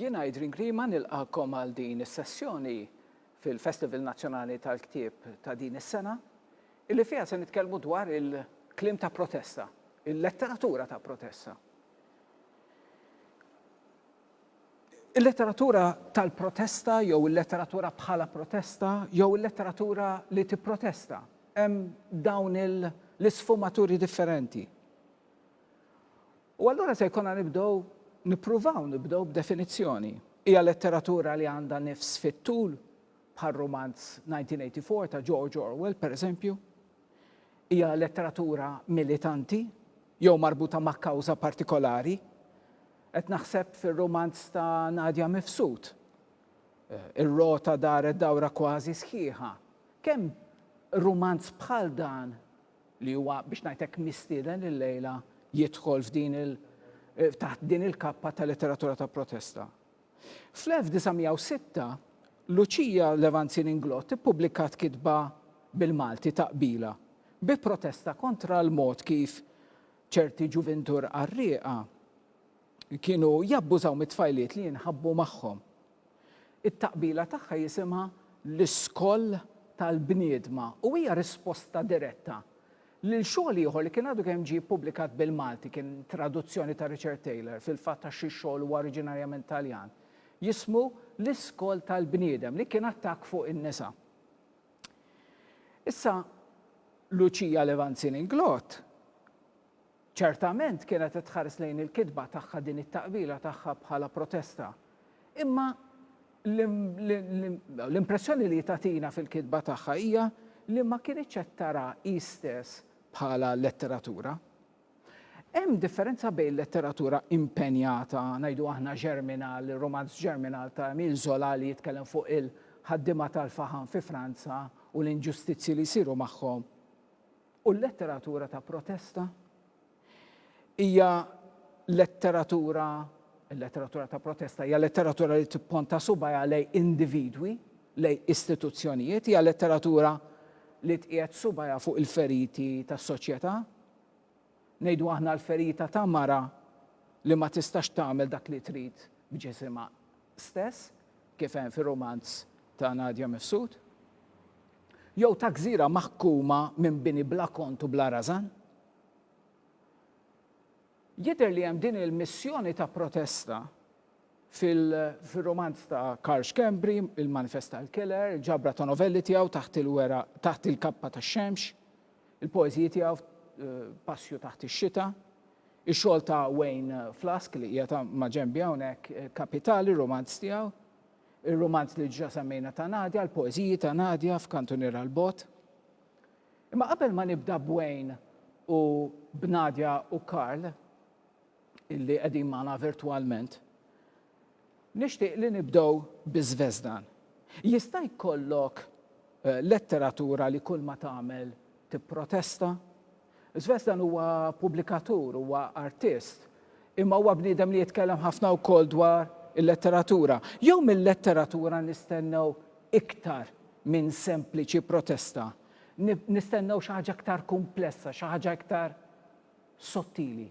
Jien Adrian Grima nilqakom għal din is-sessjoni fil-Festival Nazzjonali tal-Ktieb ta' din is-sena, illi fiha se nitkellmu dwar il-klim ta' protesta, il-letteratura ta' protesta. Il-letteratura tal-protesta jew il-letteratura bħala protesta jew il-letteratura li tipprotesta. Hemm dawn l-isfumaturi differenti. U allura se jkollna nibdew nippruvaw nibdew b'definizzjoni. Hija letteratura li għandha nifs fit-tul bħal rumanz 1984 ta' George Orwell, pereżempju, hija letteratura militanti jew marbuta ma' kawża partikolari. Qed naħseb fir-rumanz ta' Nadia Mifsud. Ir-rota daret dawra kważi sħiħa. Kemm rumanz bħal dan, li huwa biex ngħid hekk mistieden illejla, jidħol f'din il taħt din il-kappa ta' letteratura ta' protesta? Fl-1906, Luċija Levanzin-Inglott ippubblikat kitba bil-Malti ta' qbila bi protesta kontra l-mod kif ċerti ġuvintur qarrieqa kienu jabbużaw mit-tfajliet li jinħabbu magħhom. It-taqbila tagħha jisimha L-Iskoll tal-Bniedma u hija risposta diretta Lil xogħol ieħor li kien għadu kemm ġie ppubblikat bil-Malti kien traduzzjoni ta' Richard Taylor, fil-fatt għax xi xogħol huwa oriġinarjament Taljan, jismu L-Iskol tal-Bniedem, li kien attakk fuq in-nisa. Issa Lucia Levanzin Inglott, Ċertament kienet qed tħares lejn il-kitba tagħha din it-taqbila tagħha bħala protesta. Imma l-impressjoni li tagħtina fil-kitba tagħha hija li ma kinitx qed tara hi stess bħala letteratura. Hemm differenza bejn letteratura impenjata, ngħidu aħna Germinal, ir-rumanz Germinal ta' Emile Zola li jitkellem fuq il-ħaddiema tal-faħam fi Franza u l-inġustizzji li jsiru magħhom, U l-letteratura ta' protesta? Hija letteratura, il-letteratura ta' protesta hija letteratura li tipponta subajha lej individwi, lej istituzzjonijiet, hija letteratura li tqiegħed subajha fuq il-feriti tas-soċjetà. Ngħidu aħna l-ferita ta' mara li ma tistax tagħmel dak li trid b'ġisimha stess, kif hemm fir-rumanz ta' Nadia Mifsud. Jew ta' gżira maħkuma minn bini bla kont u bla rażan? Jidher li hemm din il-missjoni ta' protesta fil-rumanz ta' Karl Schembri, Il-Manifest tal-Killer, il-ġabra ta' novelli tiegħu Taħt il-Weraq, Taħt il-Kappa tax-Xemx, il-poeżiji tiegħu Passju taħt ix-Xita, ix-xogħol ta' Wayne Flask li qiegħed maġenbi hawnhekk, Kapitali, rumanz tiegħu. ir-rumanz li diġà semmejna ta' Nadia, l-poeżiji ta' Nadia f'Kantuniera l-Bogħod. Imma qabel ma nibda b'Wayne u b'Nadia u Karl, illi qegħdin magħna virtwalment, nixtieq li nibdew bi Żvezdan. Jista' jkollok eh, letteratura li kull ma tagħmel tipprotesta? Svestan huwa pubblikatur, huwa artist, imma huwa bniedem li jitkellem ħafna wkoll dwar il-letteratura. Jew mil-letteratura nistennew iktar minn sempliċi protesta? Nistennew xi ħaġa iktar kumplessa, xi ħaġa iktar sottili?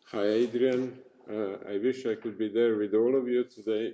Hi Adrian, uh, I wish I could be there with all of you today.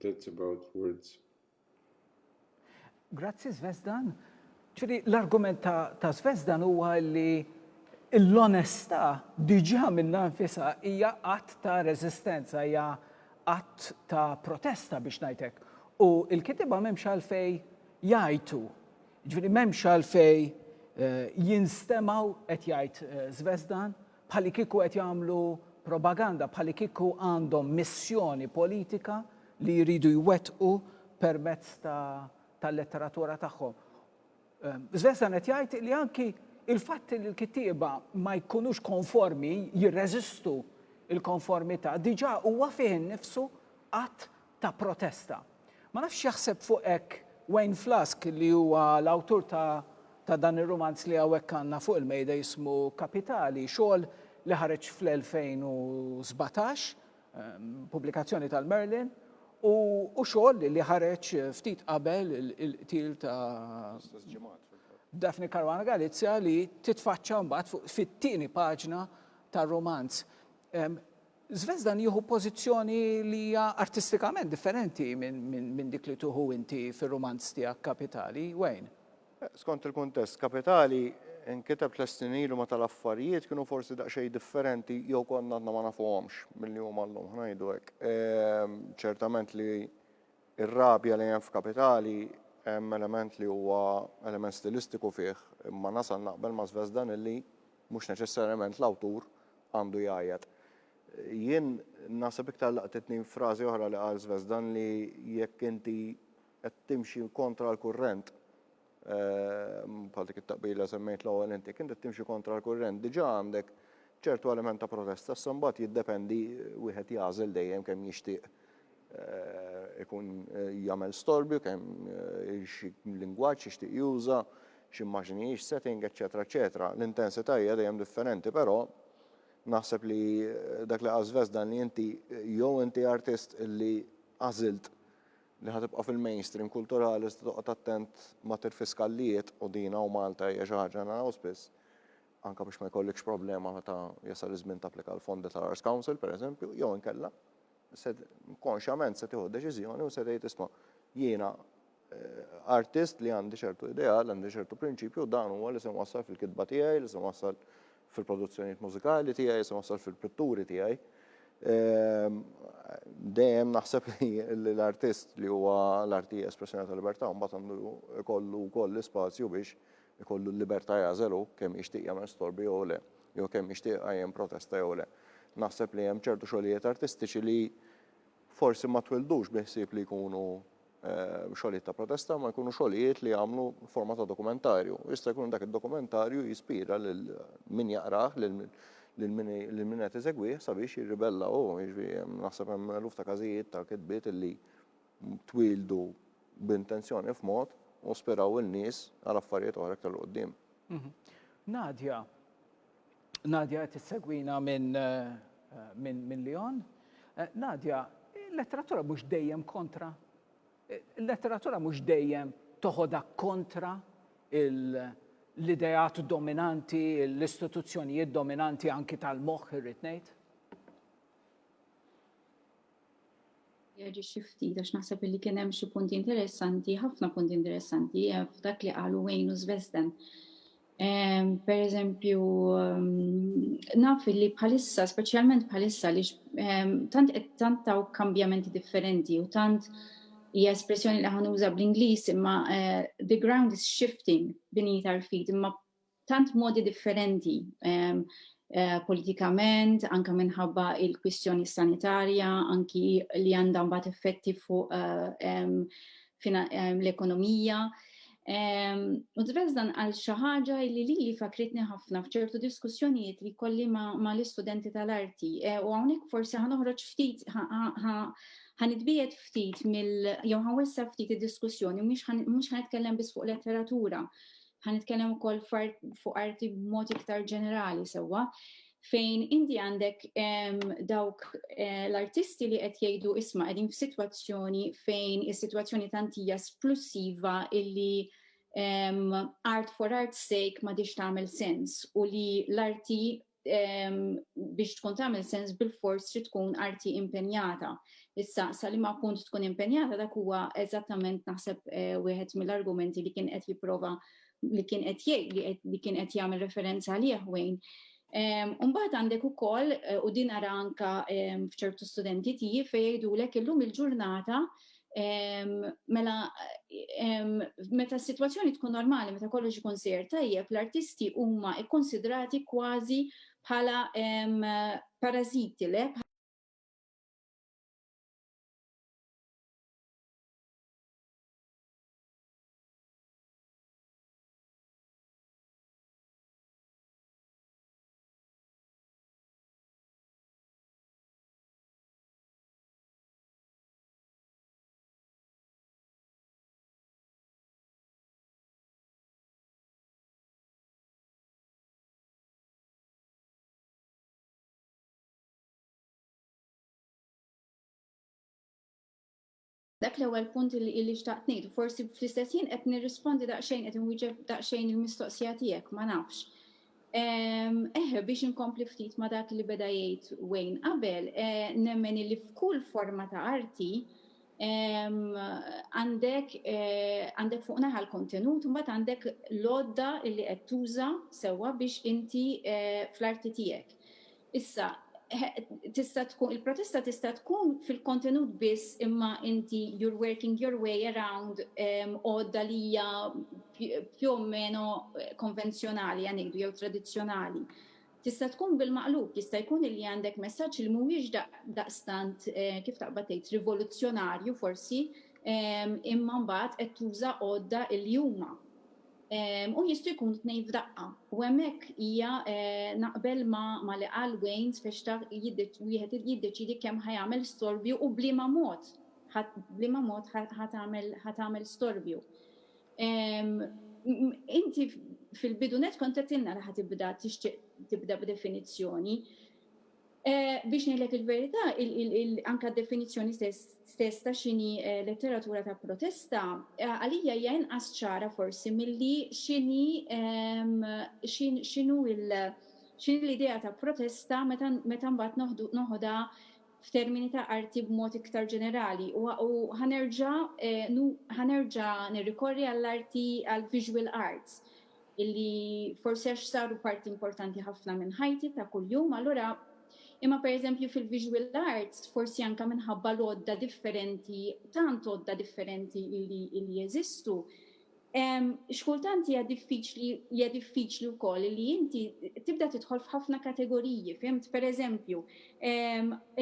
That's about words. Grazzi Zvezdan. Ġifieri l-argument ta', ta Zvezdan huwa li l-onestà diġà minnha nfisha hija att ta' reżistenza, hija att ta' protesta biex ngħidlek. U l-kitiba m'hemmx għalfej jgħajtu. Ġifieri m'hemmx għalfej eh, jinstemaw qed jgħid eh, Zvezdan bħalikieku qed jagħmlu propaganda, bħalikieku għandhom missjoni politika li jridu jwettqu permezz ta' tal-letteratura tagħhom. Svensson qed jgħid li anki il-fatt li l-kittieba ma jkunux konformi, jirreżistu il-konformità, diġà huwa fih innifsu att ta' protesta. Ma nafx x'jaħseb fuq hekk Wayne Flask li huwa l-awtur ta' ta' dan ir-rumanz li hawnhekk għandna fuq il-mejda jismu Kapitali, xogħol li ħareġ fl-2017, pubblikazzjoni tal-Merlin, u u xogħol li ħareġ ftit qabel il-qtil ta' L-istess ġimgħat fil-fatt. Daphne Caruana Galizia li titfaċċa mbagħad fuq fit-tieni paġna tar-rumanz. Zvezdan jieħu pożizzjoni li hija artistikament differenti minn dik li tieħu inti fir-rumanz tiegħek Kapitali, Wayne. Skont il-kuntest, Kapitali nkiteb tliet snin ilu meta l-affarijiet kienu forsi daqsxejn differenti jew konna għadna ma nafuhomx milli huma llum, ħa ngħidu hekk. Ċertament li r-rabja li hemm f'Kapitali hemm element li huwa element stilistiku fih, imma nasal naqbel ma' Zvezdan illi, Mhux neċessarjament l-awtur għandu jgħajjat. Jien naħseb iktar laqtitni frażi oħra li qal Zvezdan li jekk inti qed timxi kontra l-kurrent, bħal dik it-taqbila li semmejt l-ewwel int, jekk inti qed timxi kontra l-kurrent diġà għandek ċertu element ta' protesta, issa mbagħad jiddependi wieħed jagħżel dejjem kemm jixtieq ikun jagħmel storbju kemm xi lingwaġġ jixtieq juża, x'immaġni hi, x'setting, eċċetera eċċetera. L-intensità hija dejjem differenti però naħseb li dak li qal Zvezdan li inti jew inti artist li għażilt li ħa tibqa' fil-mainstream kulturali iżda toqgħod attent ma tirfiskallijiet u din hawn Malta hija xi ħaġa naraw spiss anke biex ma jkollikx problema meta jasal iż-żmien tapplika għall-fondi tal-Arts Council pereżempju jew inkella se konxjament se tieħu deċiżjoni u se tgħid isma' jiena eh, artist li għandi ċertu ideal, għandi ċertu prinċipju, dan huwa li se wassal fil-kitba tiegħi, li se wassal fil-produzzjonijiet mużikali tiegħi, se wassal fil-pitturi tiegħi. Ehm, dejjem naħseb li l-artist li huwa l-arti espressjoni tal-libertà mbagħad għandu jkollu wkoll l-ispazju biex ikollu l-libertà jagħżel hu kemm jixtieq jagħmel storbi jew le, jew kemm jixtieq iqajjem protesta jew le. Naħseb li hemm ċertu xogħlijiet artistiċi li forsi ma twildux bi ħsieb li jkunu xogħlijiet ta' protesta, ma jkunu xogħlijiet li jagħmlu forma ta' dokumentarju. Jista' jkun dak id-dokumentarju jispira lil min jaqrah, lil min qed iżegwih sabiex jirribella hu. Jiġifieri naħseb hemm eluf ta' każijiet ta' kitbiet li twieldu b'intenzjoni f'mod u ispiraw il-nies għal affarijiet oħra iktar 'l quddiem. Nadia, Nadia qed issegwina minn minn minn Lyon. Nadia, il-letteratura mhux dejjem kontra. Il-letteratura mhux dejjem toħodha kontra l-ideat dominanti, l-istituzzjonijiet dominanti anki tal-moħħ irrid ngħid. Jaġixxi ftit għax naħseb li kien hemm xi punti interessanti, ħafna punti interessanti eh, f'dak li qalu Wayne u Svesden. Ehm, per eżempju, ehm, naf li bħalissa, speċjalment bħalissa li ehm, tant qed tant taw kambjamenti differenti u tant hija espressjoni li ħanuża bl-Ingliż imma eh, the ground is shifting beneath our feet imma tant modi differenti politikament, anke minħabba il-kwistjoni sanitarja, anki li għandha mbagħad effetti fuq l-ekonomija. U tbeż dan għal xi ħaġa li lili fakritni ħafna f'ċertu diskussjonijiet li jkolli ma' l-istudenti tal-arti. U hawnhekk forsi ħa noħroġ ftit ħa nitbiegħed ftit mill jew ħa nwessa' ftit id-diskussjoni mhux ħa nitkellem biss fuq letteratura. Ħa nitkellem ukoll fuq arti b'mod iktar ġenerali sewwa fejn inti għandek dawk eh, l-artisti li qed jgħidu isma' qegħdin f'sitwazzjoni fejn is-sitwazzjoni tantija splussiva illi um, art for art's sake ma diċ tagħmel sens u li l-arti biex tkun tagħmel sens bil-fors trid tkun arti impenjata. Issa sa li ma punt tkun impenjata dak huwa eżattament naħseb eh, wieħed mill-argumenti li kien qed jipprova li kien qed jgħid li kien qed jagħmel referenza għalih Wayne. Umbaħt għandek u koll, eh, u din ara anka fċertu studenti tiji fejdu lek illum il-ġurnata Mela, meta s-sitwazzjoni tkun normali, meta kollox ikun sejjer tajjeb, l-artisti huma kkunsidrati kważi bħala parażiti, le? Dak l-ewwel punt li illi xtaqt ngħid, forsi fl-istess ħin qed nirrispondi daqsxejn qed inwieġeb daqsxejn il-mistoqsija tiegħek, ma nafx. Eħe, biex inkompli ftit ma' dak li beda jgħid Wayne qabel, nemmen illi f'kull forma ta' arti għandek għandek fuq naħa l-kontenut u mbagħad għandek l-għodda illi qed tuża sewwa biex inti fl-arti tiegħek. Issa, tista' tkun, il-protesta tista' tkun fil-kontenut biss imma inti you're working your way around għodda li hija più o meno konvenzjonali għan ngħidu jew tradizzjonali. Tista' tkun bil-maqlub, jista' jkun illi għandek messaġġ li mhuwiex daqstant kif taqbad tgħid rivoluzzjonarju forsi imma mbagħad qed tuża għodda illi huma. u jistgħu jkunu t-tnejn f'daqqa. U hemmhekk hija naqbel ma' li qal Wayne spex taf wieħed jiddeċiedi kemm ħa jagħmel storbju u b'liema mod b'liema mod ħa tagħmel storbju. Inti fil-bidu nett kont għedtilna li ħa tibda tixtieq tibda b'definizzjoni. Biex ngħidlek il-verità, anke d-definizzjoni stess ta' x'inhi letteratura ta' protesta, għalija hija inqas ċara forsi milli x'inhi x'inhu x'inhi l-idea ta' protesta meta mbagħad noħodha f'termini ta' arti b'mod iktar ġenerali. U ħa nerġa' ħa nerġa' nirrikorri għall-arti għall-visual arts illi forsi għax saru parti importanti ħafna minn ħajti ta' kuljum, allura imma pereżempju fil-visual arts forsi anke minħabba l-għodda differenti, tant għodda differenti illi illi jeżistu. X'kultant hija diffiċli hija diffiċli wkoll li inti tibda tidħol f'ħafna kategoriji, fimt? Pereżempju,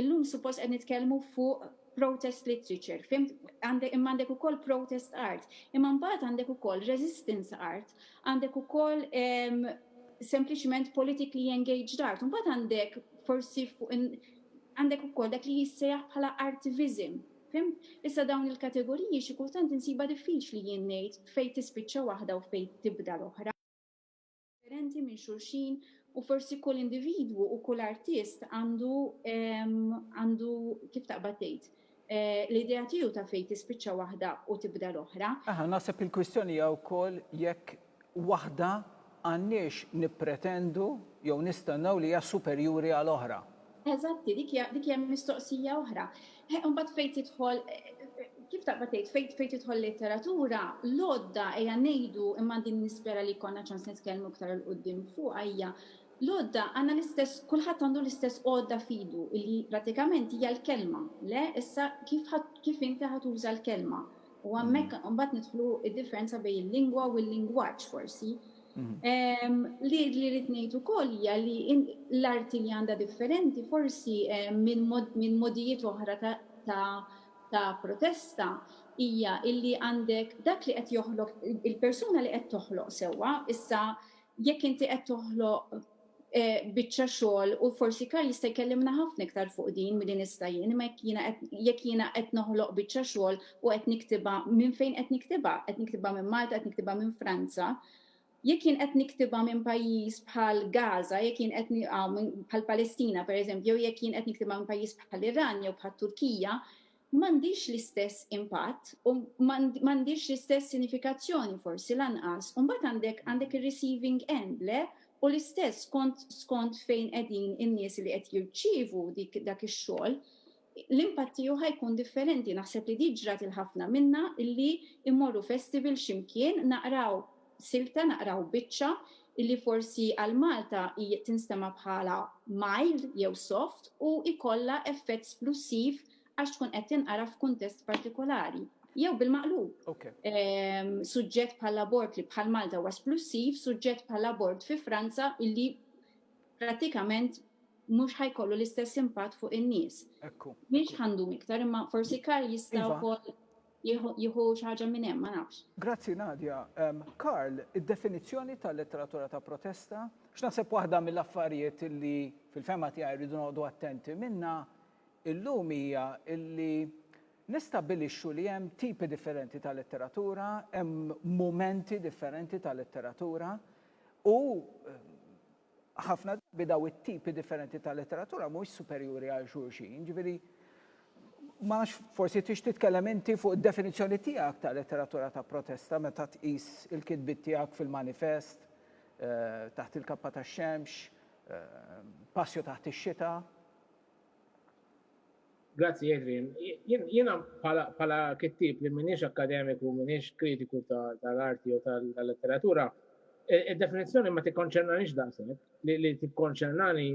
illum suppost qed nitkellmu fuq protest literature, fhimt? Għandek, imma għandek ukoll protest art, imma mbagħad għandek ukoll resistance art, għandek ukoll ehm, sempliċement politically engaged art, mbagħad għandek forsi fuq għandek ukoll dak li jissejjaħ bħala artivism. Fim? Issa dawn il-kategoriji xi kultant insiba diffiċli jien ngħid fejn tispiċċa waħda u fejn tibda l-oħra. differenti minn xulxin u forsi kull individwu u kull artist għandu għandu kif taqbad tgħid Eh, l-idea tiegħu ta' fejn tispiċċa waħda u tibda l-oħra. Aha, naħseb il-kwistjoni hija wkoll jekk waħda għandniex nippretendu jew nistennew li hija superjuri għal oħra. Eżatti, dik hija dik hija mistoqsija oħra. Eh, imbagħad fejn tidħol kif taqba tgħid fejn fejn tidħol letteratura, l-għodda hija ngħidu imma din nispera li jkollna ċans nitkellmu iktar il qudiem fuq hija l-għodda għandna l-istess kulħadd għandu l-istess għodda fidu li pratikament hija l-kelma. Le, issa kif kif inti ħatuża l-kelma. U hemmhekk mm. mbagħad nidħlu id-differenza bejn il-lingwa u l-lingwaġġ forsi. Li li rrid ngħid ukoll hija li l-arti li għandha differenti forsi minn modijiet oħra ta' protesta hija li għandek dak li qed joħloq il-persuna li qed toħloq sewwa, issa jekk inti qed toħloq biċċa xogħol u forsi Karl jista' jkellimna ħafna iktar fuq din milli nista' jien, imma jekk jiena qed jekk jiena qed noħloq biċċa xogħol u qed niktibha minn fejn qed niktibha? Qed niktibha minn Malta, qed niktibha minn Franza. Jekk jien qed niktibha minn pajjiż bħal Gaza, jekk jien qed bħal Palestina pereżempju, jew jekk jien qed niktibha minn pajjiż bħal Iran jew bħat-Turkija, m'għandhiex l-istess impatt u m'għandhiex l-istess sinifikazzjoni forsi lanqas. U mbagħad għandek għandek ir-receiving end, le? U l-istess skont skont fejn qegħdin in-nies li qed jirċievu dik dak ix-xogħol, l-impatt tiegħu ħa jkun differenti. Naħseb li di ġrat 'il ħafna minna illi mmorru festival xi mkien, naqraw silta naqraw biċċa illi forsi għal Malta hi tinstema' bħala mild jew soft u jkollha effett splussiv għax tkun qed tinqara f'kuntest partikolari. Jew bil-maqlub. Suġġett bħall-abort li bħal Malta huwa splussiv, suġġett bħall-abort fi Franza illi prattikament mhux ħa jkollu l-istess impatt fuq in-nies. M'iniex ħa ndum iktar imma forsi Karl jista' wkoll. jieħu xi ħaġa minn hemm, ma nafx. Grazzi Nadia. Karl, id-definizzjoni ta' letteratura ta' protesta, għax naħseb waħda mill-affarijiet li fil-fehma tiegħi rridu noqogħdu attenti minnha illum hija li nistabbilixxu li hemm tipi differenti ta' letteratura, hemm mumenti differenti ta' letteratura u Ħafna drabi dawn it-tipi differenti ta' letteratura mhumiex superjuri għal xulxin, jiġifieri ma nafx forsi tix titkellem inti fuq id-definizzjoni tiegħek ta' letteratura ta' protesta meta tqis il-kitbiet tiegħek fil-Manifest, Taħt il-Kappa tax-Xemx, Passio taħt ix-Xita. Grazzi Adrian. Jiena bħala kittieb li m'iniex akkademiku, m'iniex kritiku tal-arti jew tal-letteratura, id-definizzjoni ma tikkonċernaniex daqshekk. Li tikkonċernani,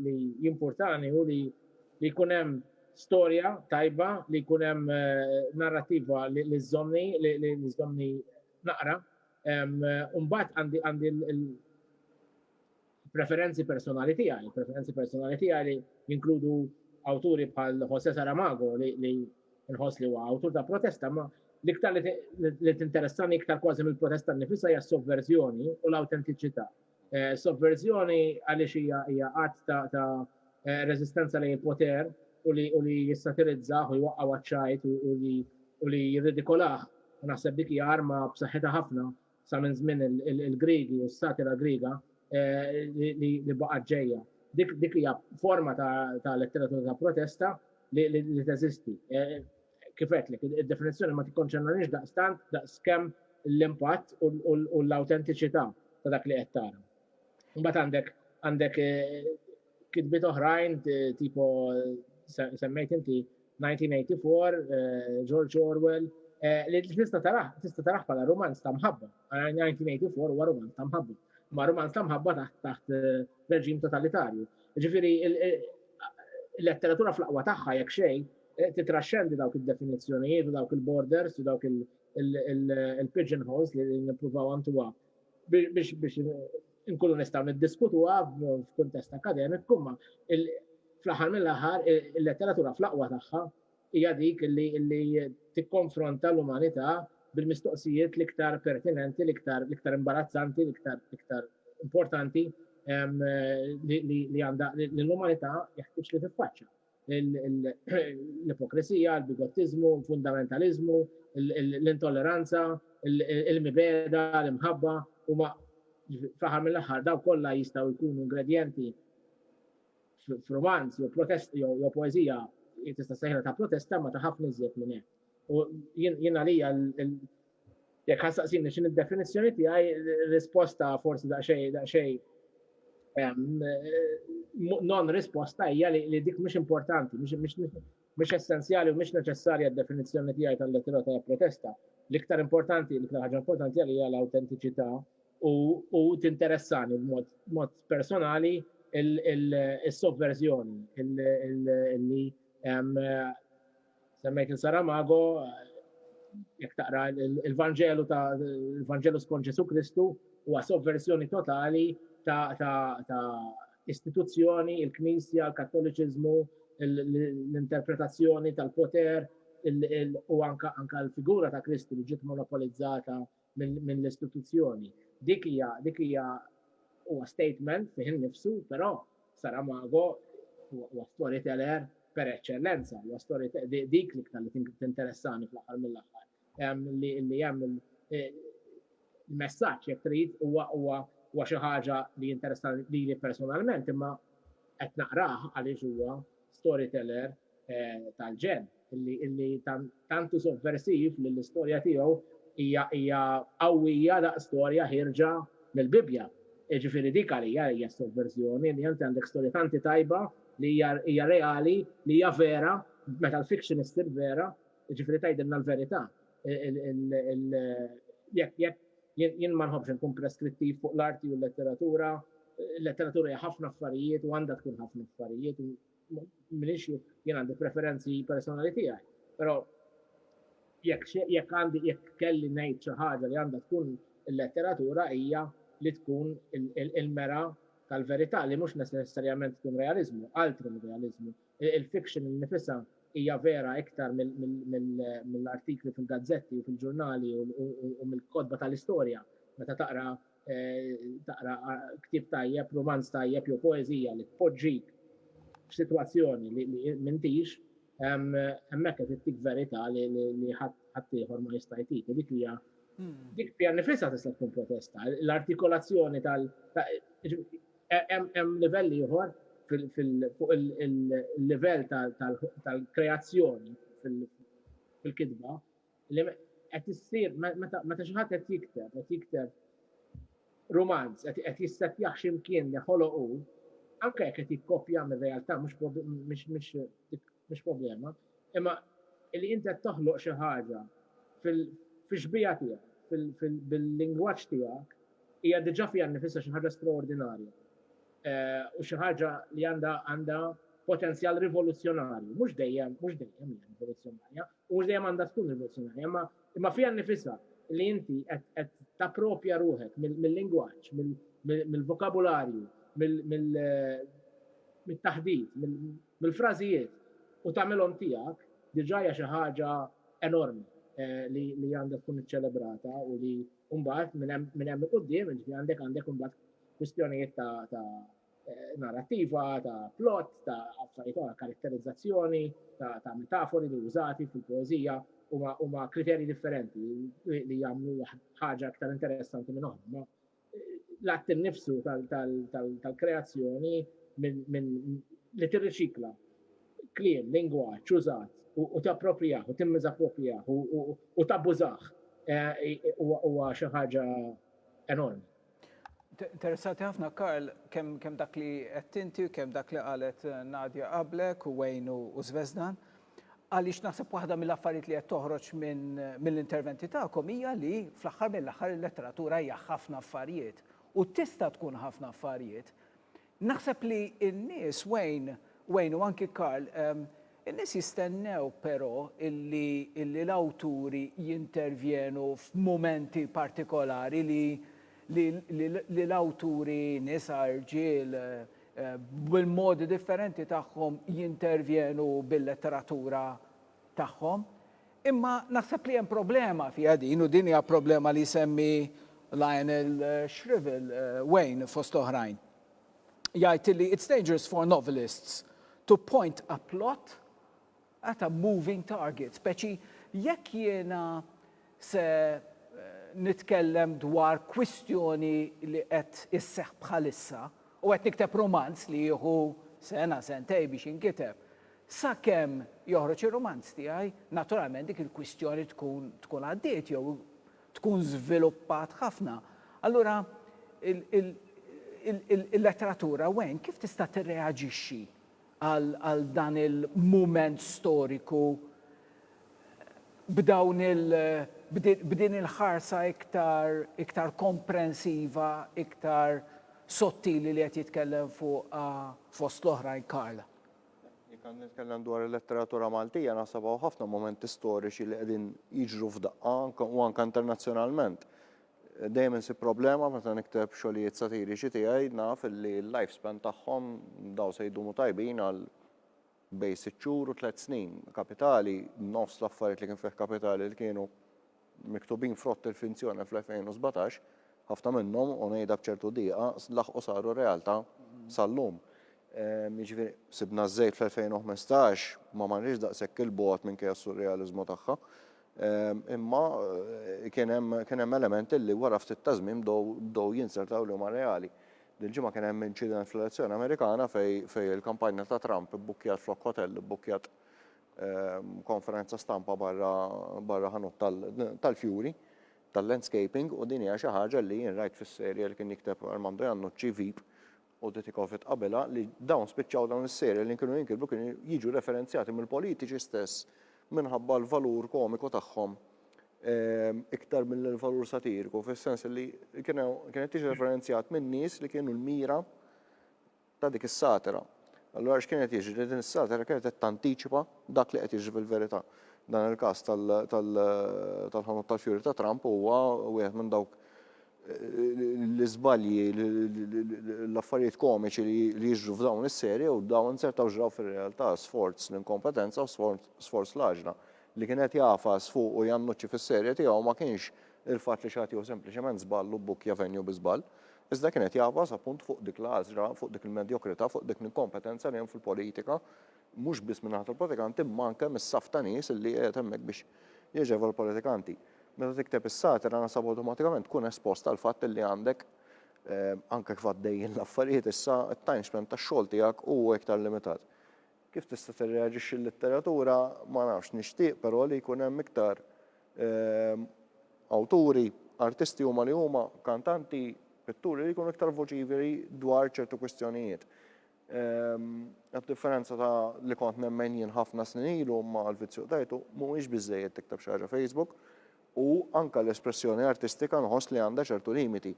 li jimpurtani hu li jkun hemm storja tajba, li jkun hemm narrattiva li żżommni, li żżommni naqra. U mbagħad għandi l-, Preferenzi personali tiegħi, preferenzi personali tiegħi li jinkludu awturi bħal Jose Saramago li nħoss li huwa awtur ta' protesta, ma l-iktar li tinteressani iktar kważi mill-protesta nifisha hija s-sovverżjoni u l-awtentiċità. Eh, sovverżjoni għaliex hija hija qatt ta' ta' eh, reżistenza lejn il-poter u li u li jissatirizzaħ u jwaqqgħu għaċċajt u li u li jirridikolah. Naħseb dik hija arma b'saħħitha ħafna sa minn żmien il-Griegi u s-satira Griega li baqgħet ġejja. Dik hija forma ta' letteratura ta' protesta li teżisti. Kif għedtlek, id-definizzjoni ma tikkonċernanix daqstant daqskemm l-impatt u l-awtentiċità ta' dak li qed tara. Imbagħad għandek għandek kitbiet oħrajn tipo semmejt inti 1984, George Orwell, li tista' taraħ, tista' taraħ bħala romanz ta' mħabba. 1984 huwa romanz ta' mħabba, ma' romanz ta' mħabba taħt taħt reġim totalitarju. Ġifieri il-letteratura fl-aqwa tagħha jekk xejn titraxxendi dawk id-definizzjonijiet u dawk il-borders u dawk il- il-pigeonholes li nippruvaw għantuwa biex inkunu nistgħu niddiskutuha f'kuntest akademiku, imma fl-aħħar mill-aħħar il-letteratura fl-aqwa tagħha hija dik li tikkonfronta l-umanità bil-mistoqsijiet l-iktar pertinenti, l-iktar imbarazzanti, l-iktar importanti li għandha li l-umanità jeħtieġ li tiffaċċja. l-ipokrisija, l-bigottiżmu, l-fundamentaliżmu, l-intolleranza, il-mibeda, l-imħabba, u ma fl-aħħar mill-aħħar daw kollha jistgħu jkunu ingredjenti f'romanz jew protest jew poeżija tista' sejħla ta' protesta ma ta' ħafna iżjed minn hekk. U jien għalija Jekk ħassaqsini x'in id-definizzjoni tiegħi, risposta forsi daqsxejn daqsxejn non risposta hija li dik mhux importanti, mhux essenzjali u mhux neċessarja d-definizzjoni tiegħi tal-lettera ta' protesta. L-iktar importanti, l-iktar ħaġa importanti għalija l-autentiċità u tinteressani b'mod personali il-sovverżjoni, li Semmejt il-Saramago, jekk taqra il-Vanġelu ta' il-Vanġelu skont Ġesu Kristu huwa sovversjoni totali ta' istituzzjoni, il-Knisja, il-Kattoliċiżmu, l-interpretazzjoni tal-poter u anka l-figura ta' Kristu li ġiet monopolizzata mill-istituzzjoni. Dik hija dik hija huwa statement fih innifsu, però Saramago huwa storyteller per eċċellenza, huwa story dik l-iktar li tinteressani fl-aħħar mill-aħħar. Li hemm il-messaġġ jekk trid huwa huwa huwa xi ħaġa li jinteressani lili personalment imma qed naqrah għaliex huwa storyteller eh, tal-ġen illi illi tantu sovversiv li l-istorja tiegħu hija hija qawwija daqs storja ħirġa mill-Bibbja. Ġifieri dik għalija hija sovverżjoni li inti għandek storja tanti tajba li hija reali, li hija vera, meta l-fiction issir vera, ġifieri tgħidilna l-verità. Jekk jekk jien ma nħobbx nkun preskrittiv fuq l-arti u l-letteratura, l-letteratura hija ħafna affarijiet u għandha tkun ħafna affarijiet Minix jien għandi preferenzi personali tiegħi, però jekk għandi jekk kelli ngħid xi ħaġa li għandha tkun il-letteratura hija li tkun il-mera tal-verità li mhux neċessarjament tkun realiżmu, altri mir-realiżmu. Il-fiction innifisha hija vera iktar mill-artikli fil-gazzetti u fil-ġurnali u mill-kotba tal-istorja meta taqra taqra ktib tajjeb, romanz tajjeb jew poeżija li tpoġġik f'sitwazzjoni li m'intix, hemmhekk qed ittik verità li ħadd ieħor ma jista' jtik. Dik hija hmm. dik fiha nifisha tista' tkun protesta. L-artikolazzjoni tal hemm livell ieħor fuq il-livell tal-kreazzjoni fil-kitba li qed issir meta xi ħadd qed jikteb, qed jikteb rumanz, qed jissettjah x'imkien li ħoloq hu, anke jekk qed jikkopja mir-realtà mhux problema, imma li inti qed toħloq xi ħaġa fix-xbieha tiegħek, bil-lingwaġġ tiegħek, hija diġà fiha nnifisha xi ħaġa straordinarja u xi ħaġa li għandha potenzjal rivoluzzjonarju, mhux dejjem hija rivoluzzjonarja, U mhux dejjem għandha tkun rivoluzzjonarja, imma imma fiha nnifisha li inti qed qed tapproprja ruħek mill-lingwaġġ, mill-vokabularju, mit-taħdit, mill-frażijiet u tagħmilhom tiegħek, diġà hija xi ħaġa enormi li għandha tkun iċċelebrata u li mbagħad minn hemm minn hemm 'il quddiem, jiġifieri għandek għandek imbagħad kwistjonijiet ta' ta' eh, narrativa, ta' plot, ta' affarijiet oħra, karatterizzazzjoni, ta', ta metafori li użati fil-poezija huma kriterji differenti li jagħmlu ħaġa aktar interessanti minn oħra. Eh, l-att innifsu tal-kreazzjoni minn li tirriċikla kliem, lingwa, ċużat, u tapproprijaħ, u timmiz approprijaħ, u tabbużaħ, eh, huwa xi ħaġa enormi. Interessanti ħafna Karl kemm kemm dak li qed inti u kemm dak li qalet Nadia qablek u Wayne u Zvezdan. Għaliex naħseb waħda mill-affarijiet li qed toħroġ minn mill-interventi tagħkom hija li fl-aħħar mill-aħħar il-letteratura hija ħafna affarijiet u tista' tkun ħafna affarijiet. Naħseb li n-nies, Wayne, Wayne u anki Karl, in-nies jistennew però illi illi l-awturi jintervjenu f'mumenti partikolari li li li li l-awturi, nisa, irġiel, bil-modi differenti tagħhom jintervjenu bil-letteratura tagħhom. Imma naħseb li hemm problema fiha din u din hija problema li jsemmi Lionel Shrivel, Wayne fost oħrajn. Jgħid li it's dangerous for novelists to point a plot at a moving target, speċi jekk jiena se nitkellem dwar kwistjoni li qed isseħħ bħalissa u qed nikteb rumanz li jieħu sena, sentejn biex jinkiteb, Sakemm joħroġ ir-rumanz tiegħi, naturalment dik il-kwistjoni tkun tkun għaddiet jew tkun żviluppat ħafna. Allura il-letteratura wen kif tista' tirreaġixxi għal dan il-mument storiku b'dawn il b'din il-ħarsa iktar iktar komprensiva, iktar sottili li qed jitkellem fuqha fost l-oħrajn Karl? Jekk għandi nitkellem dwar il-letteratura Maltija naħseb hawn ħafna mumenti storiċi li qegħdin jiġru f'daqqa u anke internazzjonalment. Dejjem insib problema meta nikteb xogħlijiet satiriċi tiegħi naf li l-life span tagħhom daw se jdumu tajbin għal bejn sitt xhur u tliet snin. Kapitali, nofs l-affarijiet li kien fih kapitali li kienu miktubin frott il-finzjoni fl-2017, ħafna minnhom, u ngħidha b'ċertu diqa, laħqu saru realtà sal-lum. Jiġifieri, sibna ż-żejt fl-2015, ma marniex daqshekk 'il bogħod minkejja s-surrealiżmu tagħha, imma kien hemm kien hemm elementi li wara ftit ta' żmien bdew bdew jinzertaw li huma reali. Dil-ġimgħa kien hemm inċident fl-elezzjoni Amerikana fejn fejn il-kampanja ta' Trump ibbukkjat flok ħotell ibbukkjat konferenza stampa barra ħanut tal-fjuri, tal-landscaping, u din hija xi ħaġa li jien rajt fis-serje li kien jikteb Armando Iannucci, Veep, u Dutikovic qabilha, li dawn spiċċaw dawn is-serje li kienu jinkitbu kienu jiġu referenzjati mill-politiċi stess minħabba l-valur komiku tagħhom iktar milli l-valur satiriku, fis-sens li kienet tiġi referenzjat minn nies li kienu l-mira ta' dik is-satira. Allura x'kien qed jiġri? Li din is-satira kienet qed tantiċipa dak li qed jiġri fil-verità. Dan il-każ tal-ħanut tal-fjuri ta' Trump huwa wieħed minn dawk l-iżbalji, l-affarijiet komiċi li jiġru f'dawn is-serje u dawn sertaw ġraw fir-realtà sforz l-inkompetenza u sforz l-għaġla. Li kien qed jagħfas fuq u jannuċċi fis-serje tiegħu ma kienx il-fatt li xi ħadd jieħu sempliċement żball u bbukkja venju bi żball. Iżda kien qed jagħfas appunt fuq dik l-għażla, fuq dik il-medjokrità, fuq dik l-inkompetenza li hemm fil-politika, mhux biss min-naħa tal-politikanti imma anke mis-saff ta' nies li qiegħed hemmhekk biex jaġeva l-politikanti. Meta tikteb is-satira naħseb awtomatikament tkun espost għall-fatt li għandek, anke kif għaddejjin l-affarijiet issa, it-time span tax-xogħol tiegħek hu iktar limitat. Kif tista' tirreaġixxi l-letteratura, ma nafx, nixtieq però li jkun hemm iktar awturi, artisti huma li huma, kantanti, pitturi li jkunu iktar voċiferi dwar ċertu kwistjonijiet. Għad-differenza ta' li kont nemmen jien ħafna snin ilu, imma l-vizzju qtajtu, mhuwiex biżżejjed tikteb xi ħaġa Facebook, u anke l-espressjoni artistika nħoss li għandha ċertu limiti.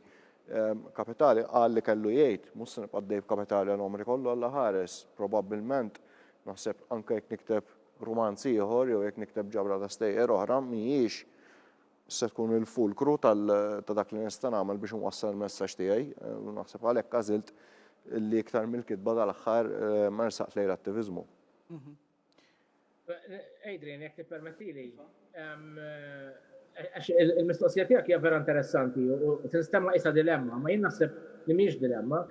Kapitali qal li kellu jgħid, mhux se nibqa' għaddej b'Kapitali għal għomri kollu Alla ħares, probabbilment, naħseb anke jekk nikteb rumanz ieħor jew jekk nikteb ġabra ta' stejjer oħra mhijiex se tkun il-fulkru tal ta' dak li nista' nagħmel biex inwassal il-messaġġ tiegħi, u naħseb għalhekk għażilt li iktar mill-kitba dal-aħħar ma nersaqx lejn l-attiviżmu. Adrian, jekk tippermettili, għax il-mistoqsija tiegħek hija vera interessanti u tinstemma isa dilemma, ma jien naħseb li mhix dilemma.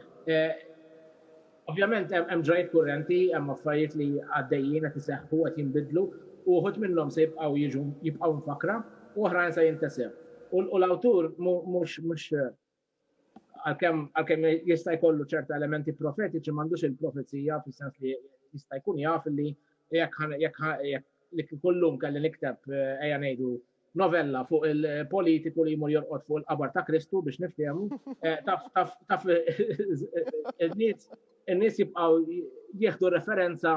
Ovvjament hemm ġrajt kurrenti, hemm affarijiet li għaddejjin qed iseħħu qed jinbidlu u uħud minnhom se jibqgħu jiġu jibqgħu mfakkra u oħrajn se jintesew. U l-awtur mhux mhux Għalkemm għalkemm jista' jkollu ċerta elementi profetiċi m'għandux il-profezija fis-sens li jista' jkun jaf li jekk li kullum kelli nikteb eh, ejja ngħidu novella fuq il-politiku li jmur jorqod fuq il-qabar ta' Kristu biex niftehmu, eh, taf taf taf in-nies in-nies jibqgħu jieħdu referenza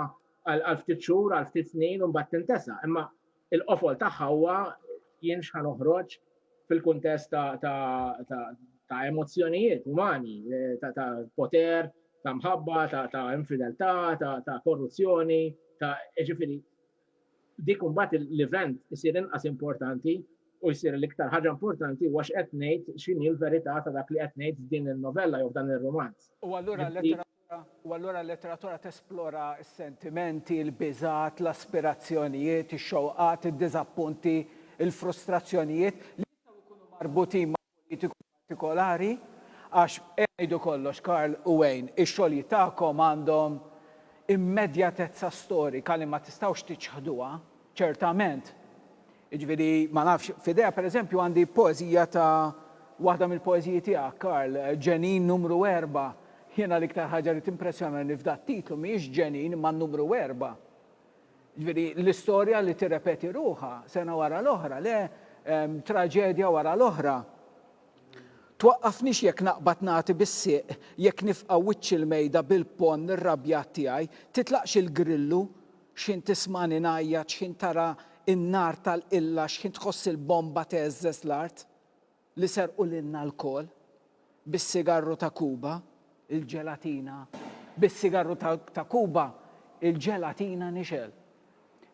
għal ftit xhur, għal ftit snin u mbagħad tintesa. Imma Il-qofol tagħha huwa jien x'ħa noħroġ fil-kuntest ta' emozzjonijiet umani, ta' poter, ta' mħabba, ta' infideltà, ta' korruzzjoni, ta' ġifieri dik imbagħad l-event isir inqas importanti u jsir l-iktar ħaġa importanti huwa x'qed ngħid x'inhi l-verità ta' dak li qed ngħid f'din in-novella jew f'dan ir-rumanz. U allura l-lettera u allura l-letteratura tesplora s-sentimenti, il-biżgħat, l-aspirazzjonijiet, ix-xewqat, id-diżappunti, il-frustrazzjonijiet li jistgħu jkunu marbutin ma' politiku partikolari, għax, ngħidu kollox, Karl u Wayne, ix-xogħlijiet tagħkom għandhom immedjatezza storika li ma tistgħux tiċħduha, ċertament. Jiġifieri, ma nafx, f'idejha pereżempju għandi poeżija ta' waħda mill-poeżiji tiegħek, Karl, Ġenin Numru Erba'. Jiena l-iktar ħaġa li timpressjonani f'dat-titlu mhijiex ġenin imma n-numru erba'. Jiġifieri, l-istorja li tirrepeti ruħha sena wara l-oħra, le, traġedja wara l-oħra. Twaqqafnix jekk naqbad nagħti bis-sieq, jekk nifqa' wiċċ il-mejda bil-ponn irrabjat tiegħi, titlaqx il-grillu, X'ħin tismagħni ngħajjat, x'ħin tara n-nar tal-qilla, x'ħin tħoss il-bomba tgħeżżeż l-art li serqu lilna lkoll bis-sigarru ta' Kuba, il-ġelatina, bis-sigarru ta' Kuba, il-ġelatina nixgħel.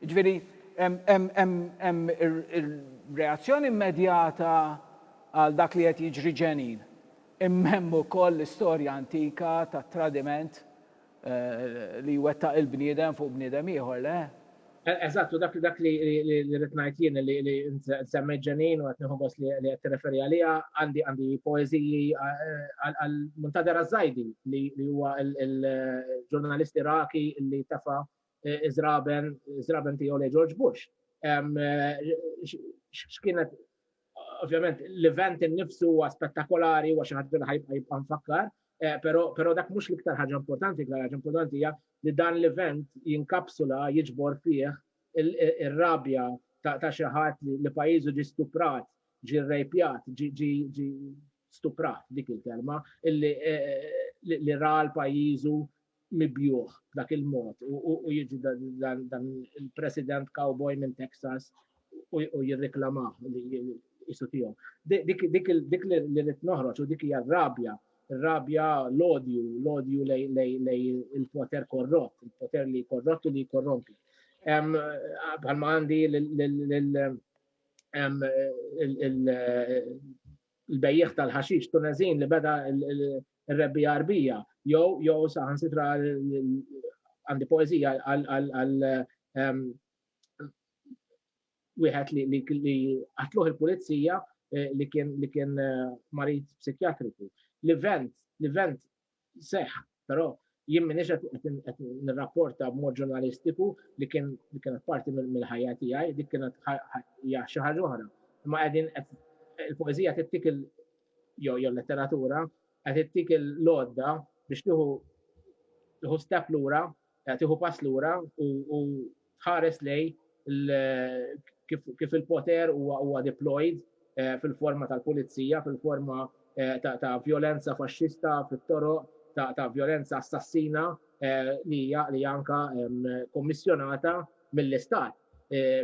Jiġifieri hemm ir-reazzjoni immedjata għal dak li qed jiġri ġenin, imma hemm ukoll l-istorja antika tat-tradiment li jwettaq il-bniedem fuq bniedem ieħor, le? Eżatt, u dak dak li rrid ngħid jien li li semmejt ġenin u qed nieħu gost li qed tirreferi għaliha għandi għandi poeżiji għal Muntader Azzajdi li huwa l-ġurnalist Iraqi li tefa' iżraben, iżraben tiegħu lej George Bush. X'kienet ovvjament l-event innifsu huwa spettakolari huwa xi ħaġa li ħajbqa' jibqa' nfakkar, eh, però dak mhux l-iktar ħaġa importanti, l ħaġa importanti hija li dan l-event jinkapsula jiġbor fih ir-rabja ta' xi ħadd li pajjiżu ġi stuprat, ġi rejpjat, ġi stuprat dik il-kelma, illi li ra l-pajizu mibjuħ dak il-mod u jiġi dan il-president cowboy minn Texas u jirreklamaħ li jisu tiegħu. Dik li rrit noħroġ u dik hija rabja, rabja l-odju, l-odju lej il-poter korrott, il-poter li korrott u li korrompi. Bħalma għandi l-bejjiegħ tal-ħaxix Tuneżin li beda r-rebbiegħa Għarbija jew jew saħansitra għandi poeżija għal ehm, wieħed li qatluh il-pulizija eh, li kien li kien eh, marid psikjatriku. L-event, l-event seħħ, però jien m'iniex qed qed nirrapporta b'mod ġurnalistiku li kien li kienet parti mill-ħajja tiegħi, dik kienet hija xi ħaġa oħra. Imma qegħdin qed il-poeżija tittik il jew jew letteratura qed tittik il-lodda biex tieħu tieħu step lura tieħu pass lura u tħares lejn kif il-poter huwa deployed fil-forma tal-pulizija, fil-forma ta' vjolenza faxxista fit-toroq, ta' vjolenza assassina li hija anke kommissjonata mill-Istat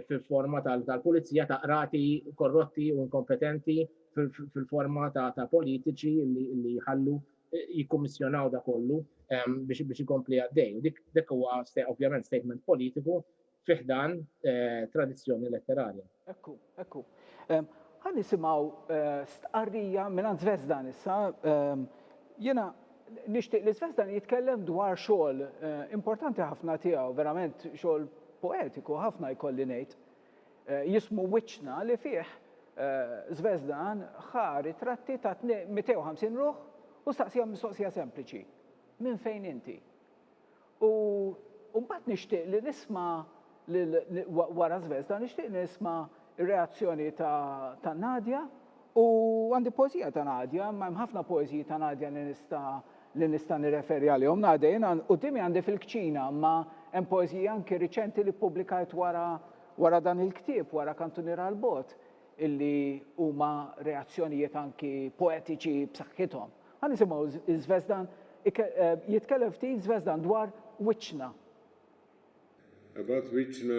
fil-forma tal-pulizija, ta' qrati korrotti u inkompetenti, fil-forma ta' politiċi li jħallu jikkummissjonaw da kollu biex ikompli għaddej. U dik huwa ovvjament statement politiku fi ħdan tradizzjoni letterarja. Ekku, ekku. Ħa nisimgħu stqarrija mingħand Zvezdan issa. Jiena nixtieq li Zvezdan jitkellem dwar xogħol importanti ħafna tiegħu, verament xogħol poetiku ħafna jkolli ngħid. Jismu Wiċċna li fih Zvezdan ħa ritratti ta' 250 ruħ u staqsihom mistoqsija sempliċi, Minn fejn inti? U mbagħad nixtieq li nisma' lil wara Zvezda nixtieq li nisma' r-reazzjoni ta' Nadia U għandi poeżija ta' Nadia, imma hemm ħafna poeżiji ta' Nadia li nista' li nista' nirreferi għalihom. Nadia, jiena quddiemi għandi fil-kċina, imma hemm poeżiji anki riċenti li ppubblikajt wara wara dan il-ktieb, wara Kantuniera għall-Bogħod, illi huma reazzjonijiet anki poetiċi b'saħħithom. Ħa nisimgħu Żvezdan jitkellem ftit Żvezdan dwar wiċċna. Abgħad wiċċna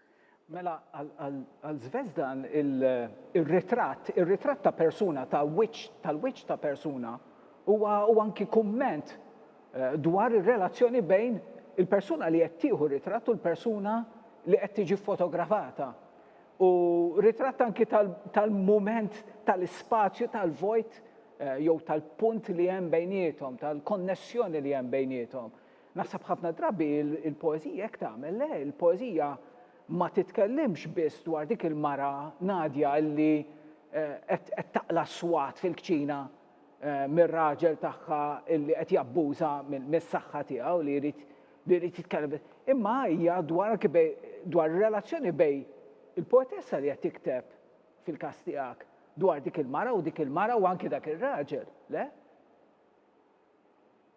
Mela għal Zvezdan ir-ritratt, ir-ritratt ta' persuna, ta' wiċċ, tal-wiċċ ta' persuna huwa huwa anki kumment dwar ir-relazzjoni bejn il-persuna li qed tieħu r-ritratt u l-persuna li qed tiġi ffotografata. U ritratt anki tal-mument tal-ispazju tal-vojt jew tal-punt li hemm bejniethom, tal-konnessjoni li hemm bejniethom. Naħseb ħafna drabi il-poeżija hekk tagħmel, le, il-poeżija ma titkellimx biss dwar dik il-mara Nadja li qed taqla' s-swat fil-kċina mir-raġel tagħha li qed jabbuża mis-saħħa tiegħu li jrid li jrid jitkellem biss, imma hija dwar anki bej dwar ir-relazzjoni bej il-poetessa li qed tikteb fil-każ tiegħek dwar dik il-mara u dik il-mara u anki dak ir-raġel, le?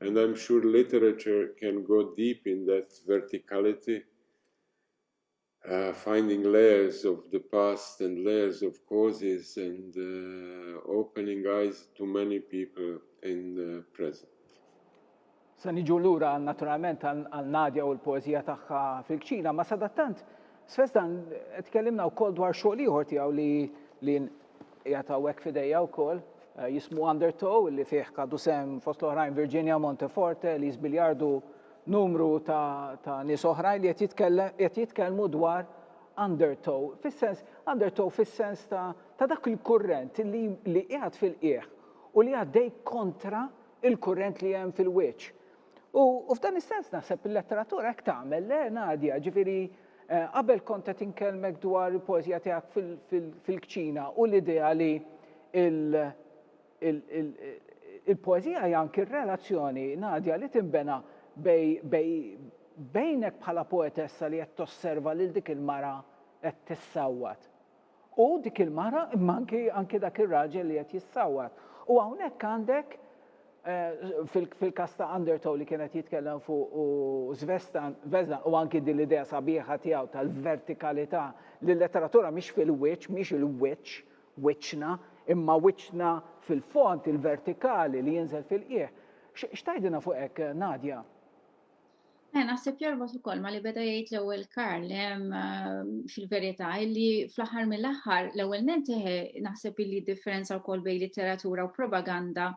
and I'm sure literature can go deep in that verticality uh, finding layers of the past and layers of causes and uh, opening eyes to many people in the present. Se niġu lura naturalment għal Nadja u l-poezija tagħha fil-kċina, ma sadattant Sfest dan qed tkellimna wkoll dwar xogħol ieħor tiegħu li li qiegħed hawnhekk f'idejja wkoll eh, jismu Undertow li fih kadu sem fost l-oħrajn Virginia Monteforte, Liz Biljardu, numru ta', ta nies oħrajn li qed jitkellmu dwar undertow, fis-sens undertow fis-sens ta', ta dak il-kurrent li, li qiegħed fil-qieħ u li għaddej kontra il-kurrent li hemm fil-wiċċ. U f'dan is-sens naħseb il-letteratura hekk tagħmel, le Nadja, ġifieri eh, qabel kont qed inkellmek dwar il-poeżija tiegħek fil-kċina u l-idea li il-poeżija hija anki r-relazzjoni Nadja li tinbena bejnek bħala poetessa li qed tosserva lil dik il-mara qed tissawwat. U dik il-mara, imma anki, anki dak ir-raġel li qed jissawwat. U hawnhekk għandek, fil, fil-każ ta' Undertow li kien qed jitkellem fuq u Svestan, Vesna, u anki din l-idea sabiħa tiegħu tal-vertikalità li l-letteratura mhix fil-wiċċ, mhix il-wiċċ, wiċċna, imma wiċċna fil-fond, il-vertikali li jinżel fil-qiegħ. X'tgħidilna fuq hekk, Nadia? Eh, naħseb jorbot ukoll ma li beda jgħid l-ewwel Karl ehm, fil-verità li fl-aħħar mill-aħħar l-ewwel nenteħe eh, naħseb li differenza wkoll bejn litteratura u propaganda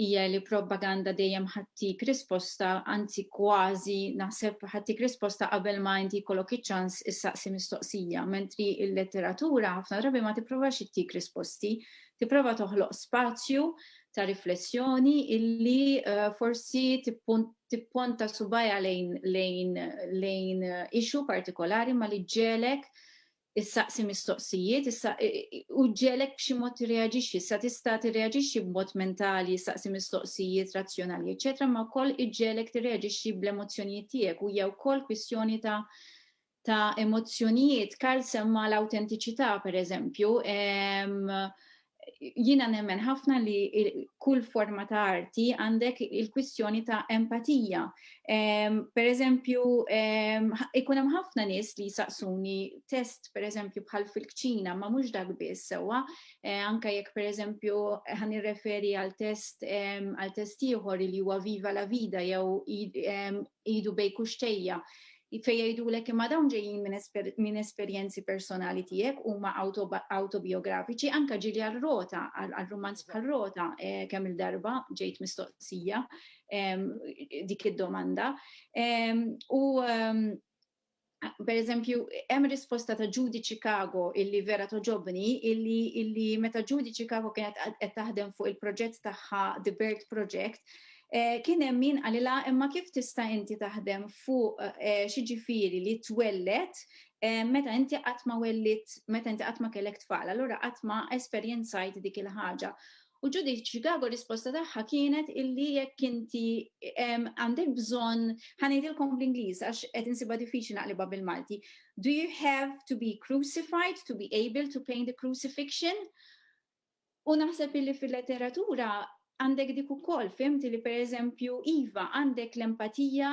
hija li propaganda dejjem ħattik risposta, anzi kważi naħseb ħattik risposta qabel ma inti jkollok iċ-ċans issaqsi mistoqsija, mentri il-letteratura ħafna drabi ma tipprovax ittik risposti, tipprova toħloq spazju ta' riflessjoni illi eh, forsi tippunt tipponta subajha lejn lejn lejn issue partikolari ma li ġġelek issaqsi mistoqsijiet, u ġelek b'xi mod tirreaġixxi, sa tista' tirreaġixxi b'mod mentali, issaqsi mistoqsijiet razzjonali, eċetera, ma wkoll iġġelek tirreaġixxi bl-emozzjonijiet tiegħek u hija wkoll kwistjoni ta' ta' emozzjonijiet, Karl semma l-awtentiċità pereżempju, jiena nemmen ħafna li kull forma ta' arti għandek il-kwistjoni ta' empatija. Pereżempju, ikun hemm ħafna nies li jsaqsuni test pereżempju bħal fil-kċina ma mhux dak biss sewwa, anke jekk pereżempju ħa nirreferi għal test għal test ieħor li huwa Viva la Vida jew idu bejn kuxxejja fejn jgħidulek imma dawn ġejjin minn esperjenzi personali tiegħek huma awtobijografiċi anke ġieli għal Rota għal rumanz bħal Rota kemm il-darba ġejt mistoqsija dik id-domanda u per eżempju, hemm risposta ta' Judy Chicago illi vera toġobni, illi, illi meta Judy Chicago kienet qed taħdem fuq il-proġett tagħha The Bird Project, eh, kien hemm min qalilha imma kif tista' inti taħdem fuq eh, xi ġifieri li twellet eh, meta inti qatt ma wellit, meta inti qatt ma kellek tfal, allura qatt ma esperjenzajt dik il-ħaġa. U Judith Chicago risposta tagħha kienet illi jekk inti għandek bżonn ħanejdilkom bl-Ingliż għax qed insibha diffiċli naqlibha bil-Malti. Do you have to be crucified to be able to paint the crucifixion? U naħseb illi fil-letteratura għandek dik ukoll fimti li pereżempju iva għandek l-empatija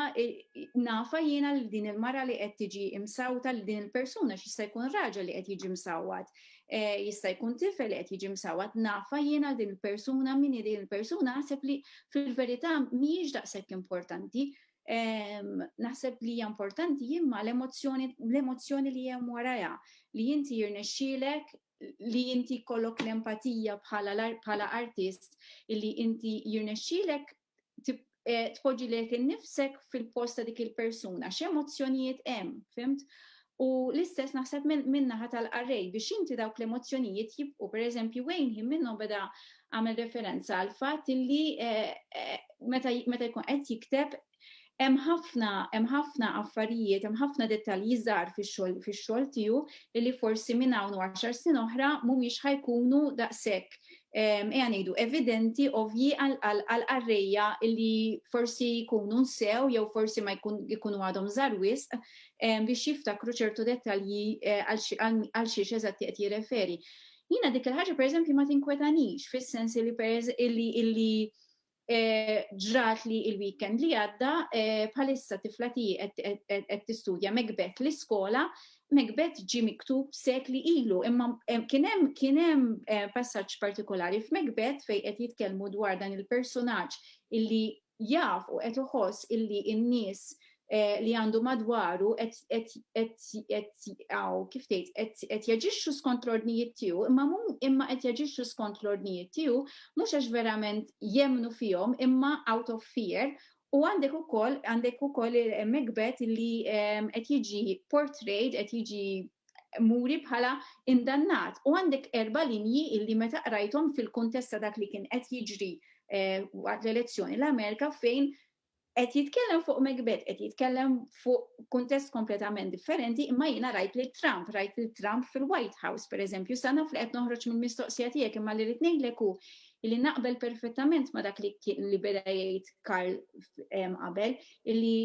nafa jiena l din il-mara li qed tiġi imsawta l din il-persuna x'jista' jkun raġel li qed jiġi msawwat. Jista' jkun tifel li qed jiġi msawwat, nafha jien għal din il-persuna, min hi din il-persuna, naħseb li fil-verità mhijiex daqshekk importanti. Naħseb li hija importanti imma l-emozzjoni l-emozzjoni li hemm warajha, li inti jirnexxielek li inti jkollok l-empatija bħala l-ar- bħala artist, illi inti jirnexxielek tpoġġi lilek innifsek fil-post ta' dik il-persuna, x'emozzjonijiet hemm, fimt? U l-istess naħseb min-naħa tal-qarrej biex inti dawk l-emozzjonijiet jibqgħu. Pereżempju, Wayne ħin minnhom beda għamel referenza għal fatt illi meta jkun qed jikteb hemm ħafna hemm ħafna affarijiet, hemm ħafna dettalji żgħar fix-xogħol fix-xogħol tiegħu li forsi minn hawn u għaxar snin oħra mhumiex ħajkunu daqshekk ejja ngħidu evidenti ovvji għal qarrejja li forsi jkunu nsew jew forsi ma jkun jkunu għadhom żgħar wisq biex jiftakru ċertu dettalji għal xiex eżatti qed jirreferi. Jiena dik il-ħaġa pereżempju ma tinkwetanix fis-sens li illi ġrat li il-weekend li għadda bħalissa tifla tiegħi qed tistudja Macbeth l-iskola, Macbeth ġie miktub sekli ilu, imma kien hemm kien hemm passaġġ partikolari f'Macbeth fejn qed jitkellmu dwar dan il-personaġġ illi jaf u qed iħoss illi n-nies Eh, li għandu madwaru kif tgħid qed jaġixxu skont l-ordnijiet tiegħu, imma imma qed jaġixxu skont l-ordnijiet tiegħu mhux għax verament jemnu fihom imma out of fear U għandek u koll, għandek u koll megbet li ehm, qed jiġi portrayed, qed jiġi muri bħala indannat. U għandek erba linji illi meta qrajthom fil-kuntesta dak li kien qed jiġri eh, waqt l-elezzjoni l-Amerika fejn Qed jitkellem fuq Macbeth, qed jitkellem fuq kuntest kompletament differenti, imma jiena rajt lil Trump, rajt lil Trump fil-White House, per eżempju, sa naf li qed noħroġ mill-mistoqsija tiegħek imma li rrid ngħidlek hu li naqbel perfettament ma dak li li beda jgħid Karl qabel, illi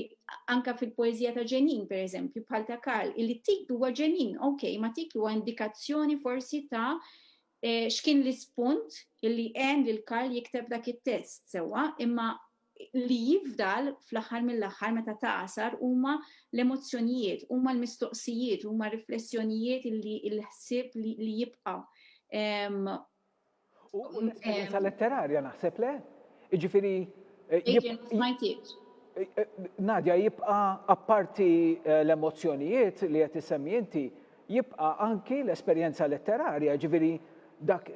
anka fil-poezija ta' ġenin, per eżempju, bħal ta' Karl, illi titlu huwa ġenin, ok, ma titlu huwa indikazzjoni forsi ta' X'kien l-ispunt li għen lil Karl jikteb dak it-test? Sewwa, imma li jifdal fl-aħħar mill-aħħar meta tagħsar huma l-emozzjonijiet, huma l-mistoqsijiet, huma r-riflessjonijiet li l-ħsieb li jibqa'. U l-esperjenza letterarja naħseb, le? Jiġifieri. Adrian, ma smajtiekx. Nadia, jibqa' apparti l-emozzjonijiet li qed issemmi inti, Jibqa' anki l-esperjenza letterarja, jiġifieri dak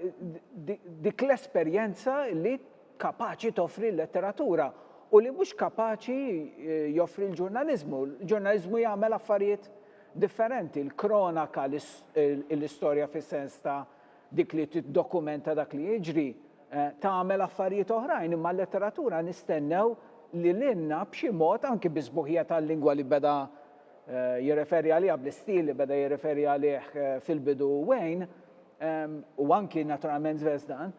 dik l-esperjenza li kapaċi toffri l-letteratura u li mhux kapaċi joffri l-ġurnaliżmu. Il-ġurnaliżmu jagħmel affarijiet differenti, l-kronaka, l-istorja fis-sens ta' dik li tiddokumenta dak li jiġri, tagħmel affarijiet oħrajn, imma l-letteratura nistennew li lilna b'xi mod, anki bis-sbuħija tal-lingwa li beda jirreferi għaliha bl-istil li beda jirreferi għalih fil-bidu Wayne, u anki naturalment Zvezdan,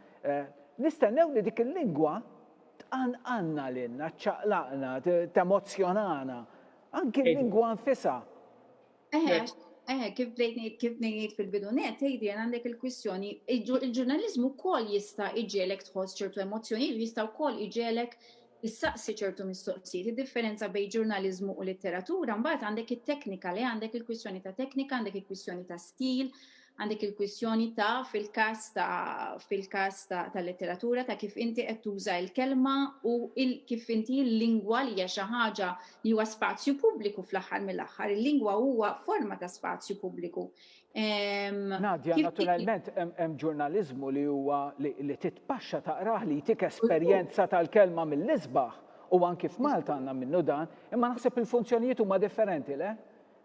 nistennew li dik il-lingwa tqanqalna lilna, ċċaqlaqna, temozzjonana, anki l-lingwa nfisha. Eħe, eħe, kif bdejt ngħid, kif bdejt ngħid fil-bidu nett, Adrian, għandek il-kwistjoni, il-ġurnaliżmu wkoll jista' jġegħlek tħoss ċertu emozzjonijiet u jista' wkoll jġegħlek issaqsi ċertu mistoqsijiet, id-differenza bejn ġurnaliżmu u litteratura, mbagħad għandek it-teknika, le għandek il-kwistjoni ta' teknika, għandek il-kwistjoni ta' stil, għandek il-kwistjoni ta' fil-każ ta' fil-każ ta' tal-letteratura ta' kif inti qed tuża l-kelma u il- kif inti l-lingwa li hija xi ħaġa li huwa spazju pubbliku fl-aħħar mill-aħħar. Il-lingwa huwa forma ta' spazju pubbliku. Nadja, naturalment hemm ġurnaliżmu li huwa li titpaxxa taqrah li jtik esperjenza tal-kelma mill-isbaħ u anki f'Malta għandna minnu dan, imma naħseb il-funzjonijiet huma differenti, le?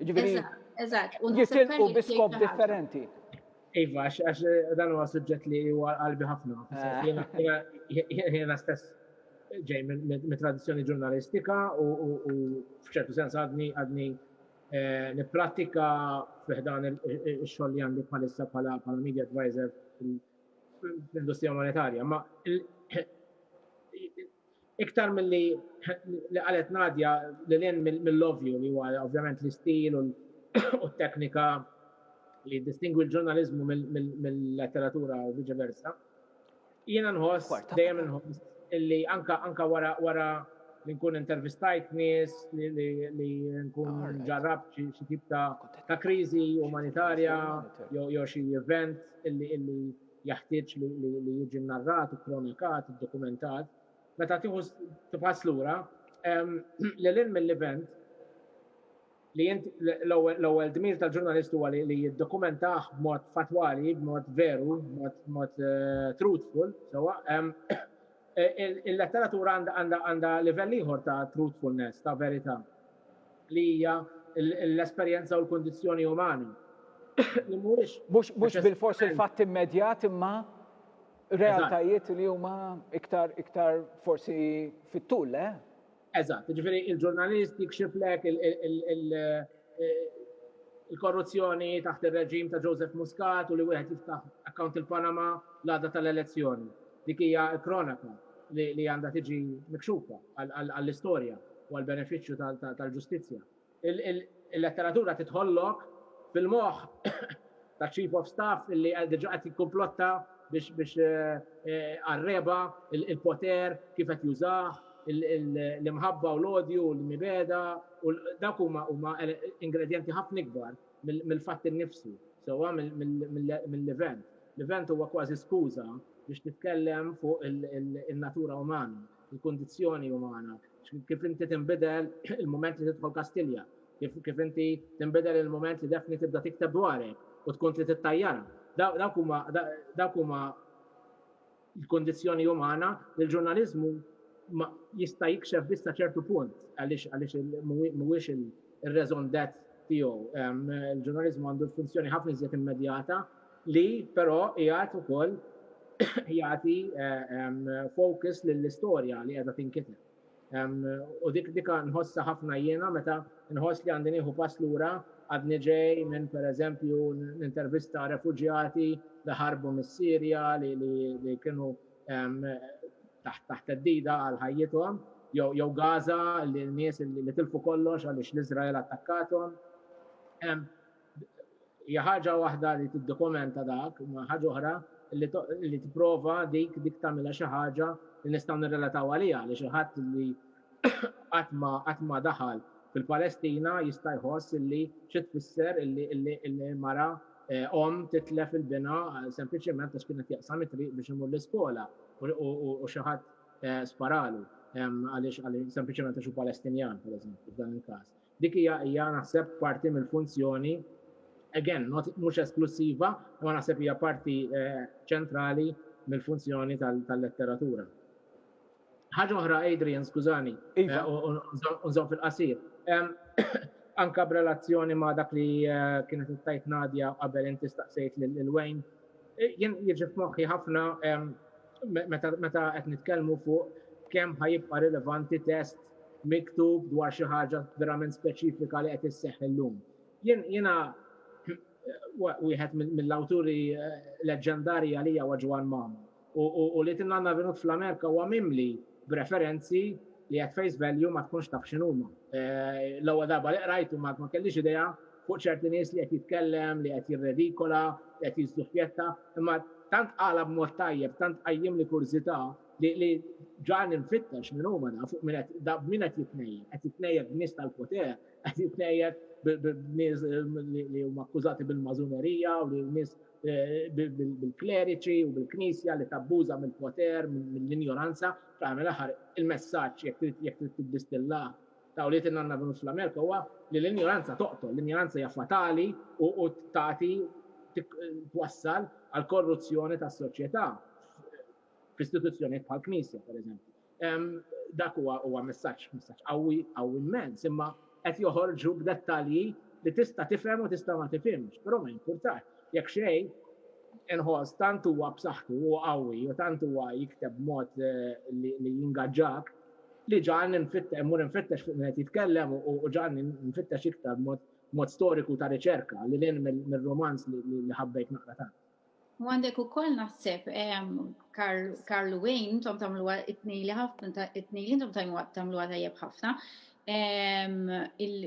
Ġifieri. Eżatt, u jitilqu bi skop differenti. Iva, għax dan huwa suġġett li huwa qalbi ħafna. Eh. Jiena stess ġej mit-tradizzjoni ġurnalistika u f'ċertu sens għadni għadni Eh, Nippratika fiħdan il-xogħol li għandi bħalissa bħala bħala media advisor fl-industrija monetarja, ma iktar mill-li li qalet Nadja li l-in mill-lovju li huwa ovvjament l-istil u t-teknika li distingwi l-ġurnalizmu mill-letteratura u vice versa. Jiena nħoss, dejjem inħoss, illi anka anka wara wara li nkun intervistajt nies li nkun ġarrabt xi tip ta' ta' kriżi umanitarja jew xi event illi illi jaħtieġ li jiġi narrat, ikkronikat, iddokumentat, meta tieħu tibħas lura, lil hinn mill-event, li int l-ewwel dmir tal-ġurnalist huwa li jiddokumentah b'mod fattwali, b'mod veru, b'mod eh, truthful, sewa. Eh, il-letteratura għandha livell ieħor ta' truthfulness, ta' verità, li hija l-esperjenza u l-kundizzjoni umani. Li mhuwiex. Mhux bil-fors il-fatt immedjat imma realtajiet li huma iktar iktar forsi fit-tul, le? Eh? Eżatt, jiġifieri il-ġurnalist jikxiflek il-korruzzjoni taħt ir-reġim ta' Joseph Muscat u li wieħed jiftaħ account il-Panama l-għada tal-elezzjoni. Dik hija kronaka li għandha tiġi mikxufa għall-istorja u għall-benefiċċju tal-ġustizzja. Il-letteratura tidħollok fil-moħħ taċ-Chief of Staff li diġà qed jikkumplotta biex għar-regħba, il-poter, kif qed jużah, l-imħabba u l-odju u l-mibegħda, u dawk huma ingredjenti ħafna ikbar mill-fatt innifsu, sewwa mill-event. L-event huwa kważi skuża biex titkellem fuq in-natura umana. il-kundizzjoni umana, kif inti tinbidel il-mument li tidħol Kastilja, kif, kif inti tinbidel il-mument li Daphne tibda tikteb dwarek u tkun trid ittajjarha. Dawk huma dawk huma l-kundizzjoni umana li l-ġurnaliżmu ma jista' jikxef biss sa ċertu punt għaliex għaliex mhuwiex ir-raison d'être tiegħu. Il-ġurnaliżmu għandu funzjoni ħafna iżjed immedjata li però qiegħed ukoll jagħti focus lill-istorja li qiegħda tinkiteb. U dik dik nħossha ħafna jiena meta nħoss li għandi nieħu pass lura għadni ġej minn pereżempju nintervista refuġjati li ħarbu mis-Sirja li kienu taħt taħt theddida għal ħajjithom jew Gaza li nies li tilfu kollox għaliex l-Iżrael attakkatuhom. hija ħaġa waħda li tiddokumenta dak, imma ħaġa oħra li, li tipprova dik dik tagħmilha xi ħaġa li nistgħu nirrelataw għaliha għaliex il-ħadd li qatt ma qatt ma daħal fil-Palestina jista' jħoss illi xi tfisser illi illi illi mara eh, om titlef il-bina eh, sempliċement għax kienet jaqsam it-triq biex imur l-iskola u xi ħadd eh, sparalu għaliex sempliċement għax hu Palestinjan, pereżempju, f'dan il-każ. Dik hija hija naħseb parti mill-funzjoni, again, not, mhux esklussiva, imma naħseb hija parti ċentrali mill-funzjoni tal-letteratura. Ħaġa oħra, Adrian, skużani, iva. unżom fil-qasir. Anka b'relazzjoni ma' dak li kienet tajt Nadja qabel inti staqsejt lil Wayne, Jien jiġi f'moħħi ħafna meta qed nitkellmu fuq kemm ħajibqa' rilevanti test miktub dwar xi ħaġa verament speċifika li qed isseħħ illum. Jiena wieħed mill-awturi leġġendarji għalija huwa Ġwann Magħmar. U li Tin Anna Venut fl-Amerika huwa mimli b'referenzi li at face value ma tkunx taf x'inhuma. L-ewwel darba li qrajtu ma kellix idea fuq ċerti nies li qed jitkellem, li qed jirredikola, li qed jiżżuppjetta, imma tant qalha b'mod tajjeb, tant qajjimli kurżità li ġagħalni nfittex min huma da fuq min da b'min qed jitnejjed. Qed jitnejjed b'nies tal-poter, qed jitnejjed b'nies li huma akkużati bil-Mażunerija u li nies bil-kleriċi u bil-Knisja li tabbuża mill-poter, mill-injoranza, fl-aħħar mill-aħħar il-messaġġ jekk trid jekk trid tiddistillah ta' Wlied in-Nanna Venus fl-Amerika huwa li l-injoranza toqtol, l-injoranza hija fatali u tagħti twassal għall-korruzzjoni tas-soċjetà f'istituzzjonijiet bħall-Knisja, pereżempju. Dak huwa huwa messaġġ messaġġ qawwi qawwi immens, imma qed joħorġu b'dettalji li tista' tifhem u tista' ma tifhimx, però ma jimpurtax. Jekk xejn, inħoss tant huwa b'saħħtu u qawwi u tant huwa jikteb b'mod li li jingaġġak li ġagħalni nfitt immur infittex fuq min qed jitkellem u ġagħalni nfittex iktar mod mod storiku ta' riċerka lil hinn mir-rumanz li ħabbejt naqra tant. U għandek ukoll naħseb Karlu Wayne intom tagħmluha it-tnejli ħafna it-tnejli intom tagħmluha tajjeb ħafna.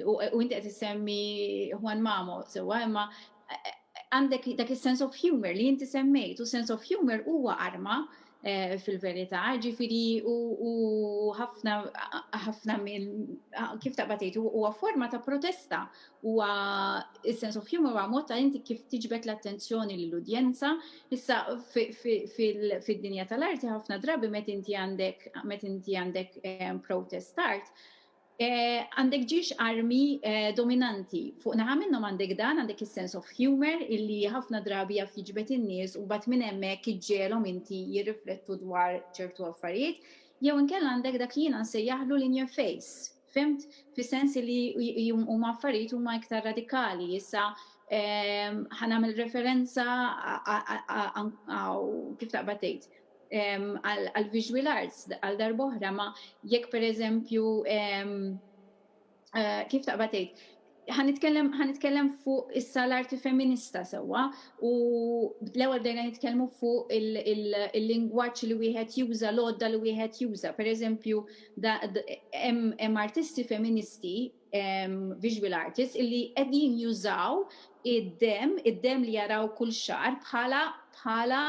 U inti qed issemmi Juan Mamo sewwa imma għandek dak is-sense of humor li inti semmejt u sense of humor huwa arma fil-verità, ġifieri hu ħafna ħafna minn kif taqbad tgħid huwa forma ta' protesta, huwa is-sense of humor huwa mod ta' inti kif tiġbed l-attenzjoni lill-udjenza. Issa fid-dinja tal-arti ħafna drabi meta inti għandek meta inti għandek protest art, Għandek ġiex armi dominanti. Fuq naħa minnhom għandek dan, għandek is-sense of humor illi ħafna drabi jaf jiġbed in-nies u mbagħad minn hemmhekk iġġiegħelhom inti jirriflettu dwar ċertu affarijiet, jew inkella għandek dak li jiena nsejjaħlu l-in your face. Fhimt? Fis-sens li huma affarijiet huma iktar radikali. Issa ħa nagħmel referenza kif taqbad tgħid. għal visual arts għal darboħra ma jekk per eżempju eh, kif taqba tgħid ħanitkellem fuq issa l-arti feminista sewwa u l-ewwel bdejna nitkellmu fuq il-lingwaġġ li wieħed juża, l-għodda li wieħed juża. Per eżempju, hemm artisti feministi visual artists illi qegħdin jużaw id-demm, id-demm li jaraw kull xahar bħala bħala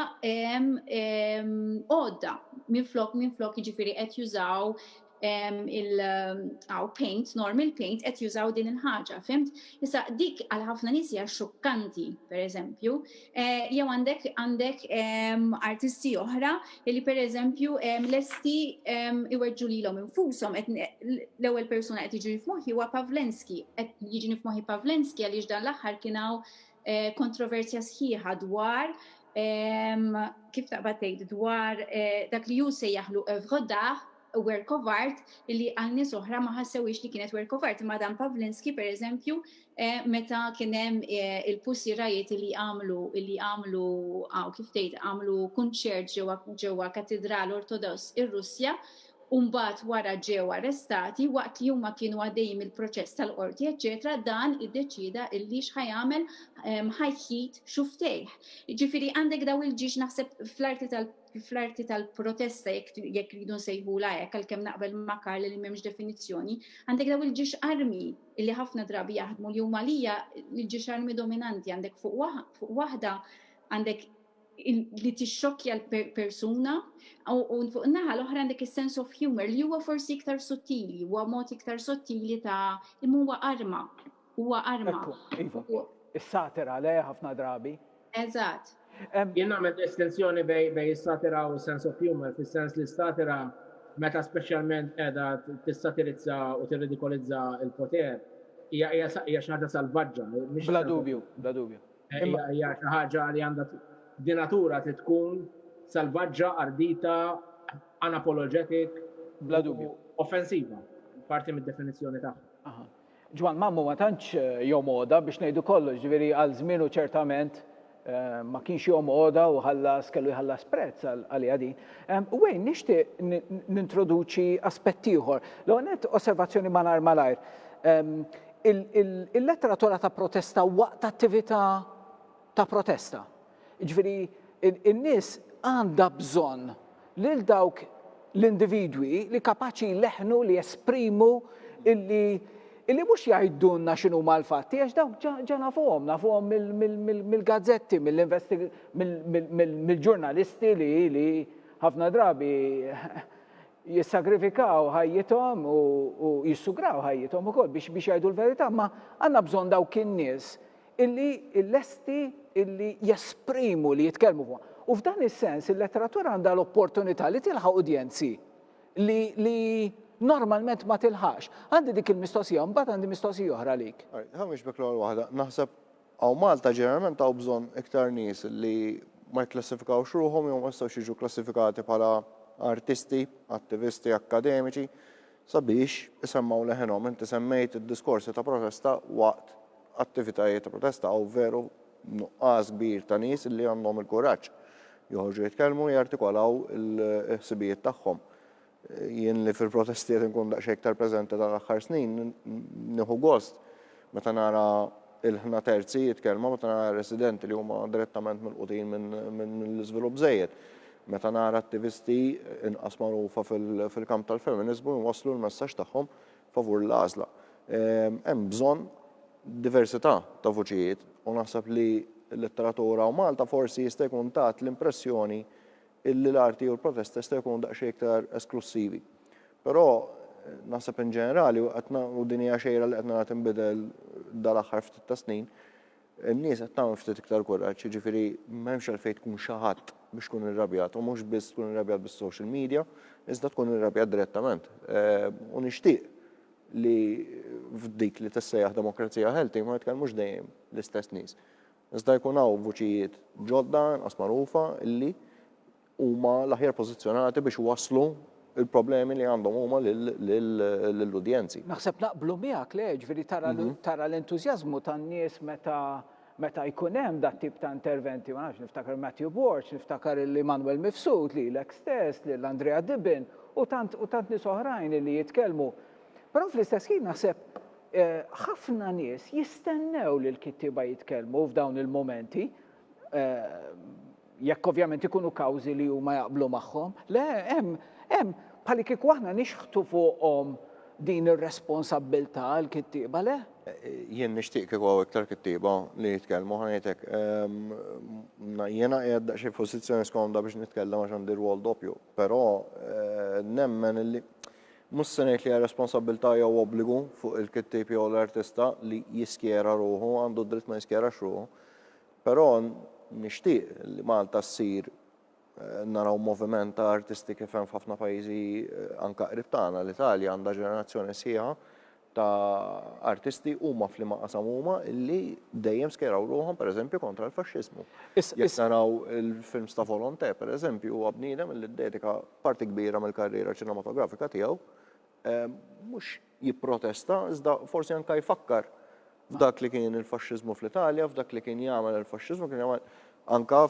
għodda minflok minflok jiġifieri qed jużaw il-għaw paint, normal paint, qed jużaw din il-ħaġa, fimt? Issa dik għal ħafna nies hija xukkanti, pereżempju, Eh, jew għandek għandek ehm, artisti oħra li per eżempju ehm, lesti ehm, iweġġu lilhom infushom l-ewwel persuna qed jiġi f'moħħi huwa Pavlenski, qed jiġi f'moħħi Pavlenski għaliex dan l-aħħar kien hawn eh, kontroversja sħiħa dwar kif taqbad tgħid dwar eh, dak li ju se jaħlu evrodaħ work of art li għal nies oħra ma ħassewhiex li kienet work of art. Imma Dan Pavlinsky pereżempju meta kien hemm il-Pussy Riot li għamlu li għamlu għaw kif tgħid għamlu kunċert ġewwa ġewwa katidral Ortodoss ir-Russja u mbagħad wara ġew arrestati waqt li huma kienu għaddejjin mill-proċess tal-qorti eċċetera dan iddeċieda illi x'ħa jagħmel ħa jħid xuftejh. Jiġifieri għandek daw il-ġiex naħseb fl-arti tal fl-arti tal-protesta jekk ridu nsejħula hekk għalkemm naqbel ma' Karl li m'hemmx definizzjoni, għandek daw il-ġiex armi li ħafna drabi jaħdmu li huma lija l-ġiex armi dominanti għandek fuq waħda għandek li tixxokkja l-persuna u fuq naħa l-oħra għandek is-sense of humor li huwa forsi iktar sottili, huwa mod iktar sottili ta' imma huwa arma. Huwa arma. Iva. Is-satira, le, ħafna drabi. Eżatt. Jien nagħmel distinzjoni bejn is-satira u s-sense of humour, fis-sens li s-satira meta speċjalment qiegħda tissatirizza u tirridikolizza l-poter hija hija xi ħaġa salvaġġa, mhix. Bla dubju, bla dubju. Hija xi ħaġa li għandha di natura trid tkun salvaġġa, ardita, unapologetic. Bla dubju. Offensiva, parti mid-definizzjoni tagħha. Aha. Ġwann Mammu ma tantx jom għoda biex ngħidu kollox, ġifieri għal żmienu ċertament ma kienx jom għoda u ħallas, kellu jħallas prezz għaliha din. Wayne, nixtieq nintroduċi aspett ieħor. L-ewwel nett osservazzjoni malajr malajr. Il-letteratura ta' protesta waqt attività ta' protesta. Jiġifieri n-nies għandha bżonn lil dawk l-individwi li kapaċi jleħħnu li jesprimu illi illi mhux jgħidulna x'inhuma l-fatti għax dawk ġa ġa nafuhom, nafuhom mill-gazzetti, mill-ġurnalisti li li ħafna drabi jissagrifikaw ħajjithom u jissugraw ħajjithom ukoll biex biex jgħidu l-verità, ma għandna bżonn dawk in-nies illi lesti illi jesprimu li jitkellmu fuq. U f'dan is-sens il-letteratura għandha l-opportunità li tilħaq udjenzi li, li normalment ma tilħax. Għandi dik il-mistoqsija, mbagħad għandi mistoqsija oħra lik. Ħamiex bek l-ewwel waħda, naħseb hawn Malta ġeneralment hawn bżonn iktar nies li ma jikklassifikawx ruħhom jew ma jistgħux jiġu klassifikati bħala artisti, attivisti, akkademiċi. sabiex isemmgħu leħinhom. Inti semmejt id-diskorsi ta' protesta waqt attivitajiet ta' protesta, hawn veru nuqqas kbir ta' nies li għandhom il-kuraġġ joħorġu jitkellmu, jartikolaw il-ħsibijiet tagħhom. Jien li fil-protesti qed inkun daqsxejn iktar preżenti dan l-aħħar snin, nieħu gost meta nara Il-ħna terzi jitkellmu meta nara residenti li huma direttament milqutin minn l-iżvilupp żejjed. Meta nara attivisti inqas magħrufa fil-kamp tal-feminiżmu jwasslu l-messaġġ tagħhom favur l-għażla. Hemm bżonn diversità ta' vuċijiet u naħseb li l-letteratura u Malta forsi jista' jkun tat l-impressjoni illi l-arti u l-protesta jistgħu jkunu daqsxejn iktar esklussivi. Però naħseb in ġenerali u qed u din hija xejra li qed nara tinbidel dal-aħħar ftit ta' snin, in-nies qed tagħmel ftit iktar kuraġġ, jiġifieri m'hemmx għalfejn tkun xi ħadd biex tkun irrabjat u mhux biss tkun irrabjat bis-social media, iżda tkun irrabjat direttament. Ehm, u nixtieq li f'dik li tissejjaħ demokrazija healthy ma jitkellmux dejjem l-istess nies. Iżda jkun hawn vuċijiet ġodda, inqas magħrufa, li huma l-aħjar pożizzjonati biex iwasslu l-problemi li għandhom huma lill-udjenzi. Naħseb naqblu miegħek, le, jiġifieri tara tara l-entużjażmu tan-nies meta meta jkun hemm dat-tip ta' interventi, ma nafx, niftakar Matthew Borg, niftakar lil Emmanuel Mifsud, lilek stess, lil Andrea Dibben, u tant u tant nies oħrajn li jitkellmu Però fl-istess ħin naħseb ħafna nies jistennew li l-kittieba jitkellmu f'dawn il-momenti jekk ovvjament ikunu kawżi li huma jaqblu magħhom. Le, hemm, hemm, bħalli kieku aħna nixħtu fuqhom din ir-responsabbiltà għal kittieba le? Jien nixtieq kieku hawn iktar kittieba li jitkellmu ħanejtek. Ehm, jiena qiegħed daqsxejn f'pożizzjoni skomda biex nitkellem għax għandi rwol doppju, però eh, nemmen li Mhux se ngħid li hija responsabbiltà jew obbligu fuq il-kittieb jew l-artista li jiskjera ruħu, għandu d-dritt ma jiskjerax ruħu. Però nixtieq li Malta ssir naraw moviment ta' artisti kif hemm f'ħafna pajjiżi anke qrib tagħna, l-Italja għandha ġenerazzjoni sħiħa ta' artisti huma f'liema qasam huma illi dejjem skejraw ruħhom pereżempju kontra l-faxxiżmu. Jekk naraw il-films ta' Volonté pereżempju huwa bniedem illi ddedika parti kbira mill-karriera ċinematografika tiegħu mhux jipprotesta iżda forsi anke jfakkar F'dak li kien il-faxxiżmu fl-Italja, f'dak li kien jagħmel il-faxxiżmu, kien jagħmel anke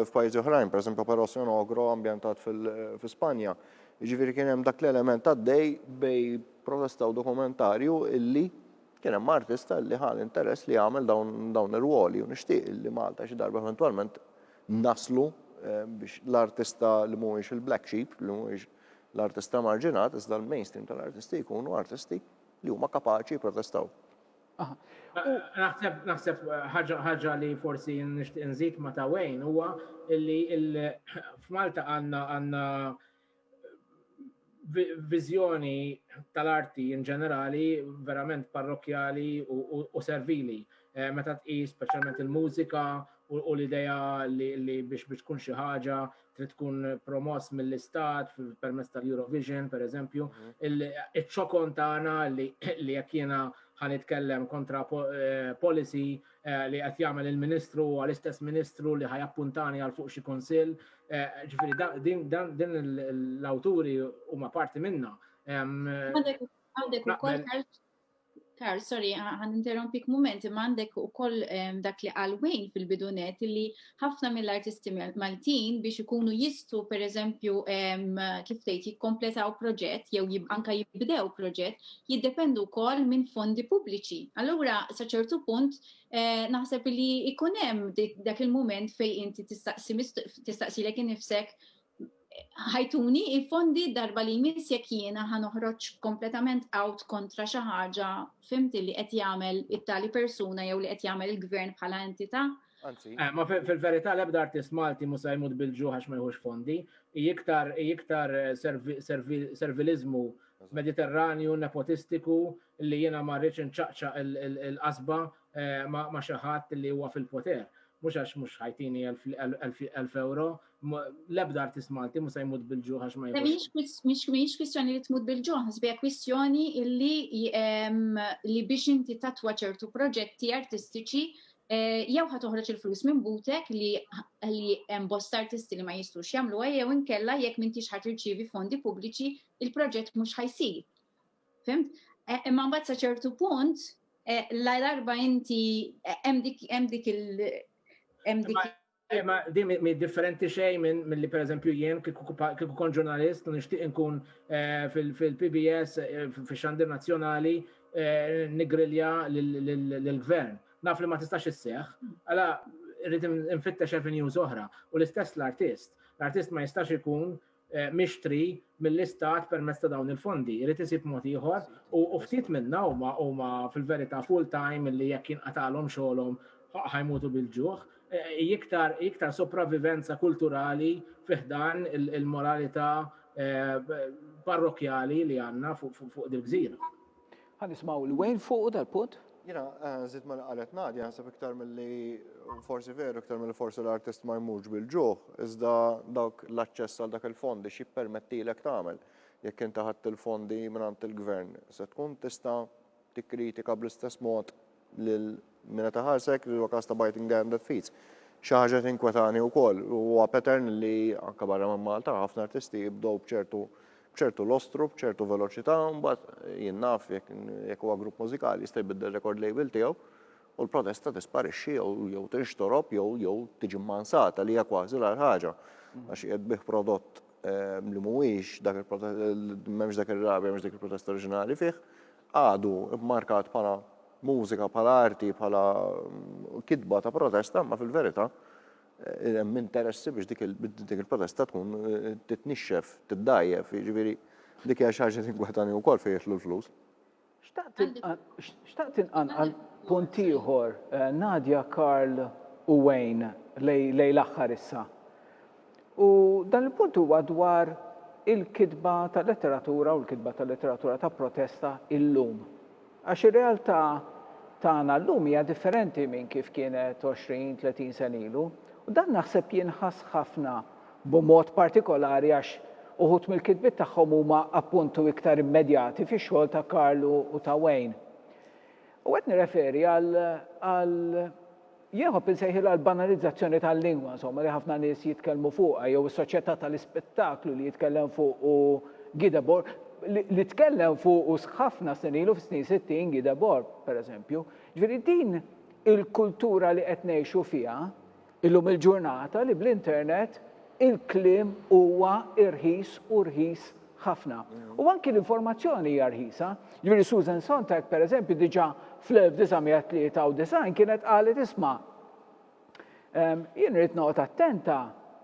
f'pajjiżi oħrajn, pereżempju Parossio Nogro ambjentat fi Spanja. Jiġifieri kien hemm dak l-element għaddej bej protesta u dokumentarju illi kien hemm artista illi ħa l-interess li jagħmel dawn ir-rwoli u nixtieq illi Malta xi darba eventwalment naslu biex l-artista li mhuwiex il-black sheep, li mhuwiex l-artista marġinat, iżda l-mainstream tal-artisti jkunu artisti li huma kapaċi jipprotestaw. Naħseb naħseb ħaġa li forsi nixtieq nżid ma ta' Wayne huwa li f'Malta għandna għandna viżjoni tal-arti in ġenerali verament parrokjali u servili. Eh, meta tqis speċjalment il-mużika u l-idea li biex biex tkun xi ħaġa trid tkun promoss mill-istat permezz tal-Eurovision, per eżempju, mhm. il-ċokon tagħna li jekk jiena ħan itkellem kontra eh, policy eh, li qed jagħmel il-Ministru għal istess Ministru li ħajappuntani għal fuq xi kunsill. Eh, ġifieri din l-awturi huma parti minna. Għandek ukoll Karl, sorry, għan interrompik moment, ma għandek u koll dak li għalwejn fil-bidunet li ħafna mill-artisti Maltin biex ikunu jistu, per eżempju, kif tgħid jikkompletaw proġett jew anka jibdew proġett, jiddependu koll minn fondi pubbliċi. Allura, sa ċertu punt, eh, naħseb li ikunem dak il-moment fej inti tistaqsi lek nifsek ħajtuni il-fondi darba li jmiss jekk jiena ħa noħroġ kompletament out kontra xi ħaġa fimt li qed jagħmel it-tali persuna jew li qed jagħmel il-gvern bħala entità. Anzi. Eh, ma fil-verità l-ebda artist Malti mu se jmut bil-ġuħ għax ma jħux fondi. Iktar iktar eh, servilizmu mediterranju, nepotistiku, li jiena ma rridx inċaqċa l-qasba eh, ma xi ħadd li huwa fil-poter mux għax mux ħajtini 1000 euro, L-ebda artist Malti musa jmut bil-ġuħ għax ma jmut. Mhix kwistjoni li tmut bil-ġuħ, sbija kwistjoni li biex inti tatwa ċertu proġetti artistiċi eh, jew ħa toħroġ il-flus minn butek li hemm bosta artisti li ma jistux jagħmluha jew inkella jekk m'intix ħadd irċievi fondi pubbliċi il-proġett mhux ħajsir. Fimt? Eh, imma mbagħad sa ċertu punt eh, la darba inti hemm dik il- Eh, ma di mi differenti xej minn mill-li per eżempju jien kiku kon ġurnalist u nishtiq nkun eh, fil-PBS eh, fil-xandir nazjonali eh, nigrilja l-gvern. Naf li ma tistax isseħ, għala rrit nfittex avenues oħra u l-istess l-artist. L-artist ma jistax ikun mixtri mill-Istat permezz ta' dawn il-fondi. Irid isib mod ieħor u ftit minnha huma huma fil-verità full time li jekk jinqatagħlhom xogħolhom ħajmutu bil-ġuħ. Iktar iktar sopravivenza kulturali fi ħdan il-moralità parrokkjali li għandna fuq dil-gżira. Ħa nismgħu lil Wayne fuqu dal-punt. Jiena nżid ma qalet Nadia naħseb iktar milli forsi veru iktar milli forsi l-artist ma jmurx bil-ġuħ, iżda dawk l-aċċess għal dak il-fondi x'jippermettilek tagħmel. Jekk inti ħadt il-fondi mingħand il-Gvern se tkun tista' tikkritika bl-istess mod lil min qed iħarsek li huwa każ ta' biting the hand that feeds. Xi ħaġa li tinkwetani wkoll huwa pattern li anke barra minn Malta ħafna artisti jibdew b'ċertu b'ċertu lostru, b'ċertu veloċità, mbagħad jien naf jekk huwa grupp mużikali jista' jbiddel record label tiegħu u l-protesta tisparixxi jew tinxtorob jew jew tiġi mmansata li hija kważi l-agħar ħaġa għax qiegħed bih prodott ehm, li mhuwiex dak il-protest m'hemmx dak ir-rabja, m'hemmx dik il-protesta oriġinali fih, għadu mmarkat bħala mużika, bħala arti, bħala kitba ta' protesta, imma fil-verità hemm interessi biex dik il-protesta tkun titnixxef, tiddgħajjef, jiġifieri dik hija xi ħaġa li tinkwetani wkoll fejn jidħlu l-flus. Xtaqt inqanqal punt ieħor, Nadia, Karl u Wayne lejn l-aħħar issa. U dan il-punt huwa dwar il-kitba ta' letteratura u l-kitba ta' letteratura ta' protesta illum. Għax ir-realtà tagħna llum hija differenti minn kif kienet 20, 30 sena ilu. U dan naħseb jinħass ħafna b'mod partikolari għax uħud mill-kitbiet tagħhom huma appuntu iktar immedjati fix-xogħol ta' Karlu u ta' Wayne. U qed nirreferi għal Jien nħobb insejħilha l-banalizzazzjoni tal-lingwa, insomma, li ħafna nies jitkellmu fuqha, jew is-soċjetà tal-ispettaklu li jitkellem fuqu Guy Debord, li tkellem fuqu ħafna snin ilu, fis-snin sittin, Guy Debord, pereżempju. Ġifieri din il-kultura li qed ngħixu fiha illum il-ġurnata li bl-internet il-kliem huwa irħis u rħis ħafna. U anki l-informazzjoni hija rħisa. Jiġifieri Susan Sontag, pereżempju, diġà fl-1993 kienet qalet isma' ehm, jien rrid noqgħod attenta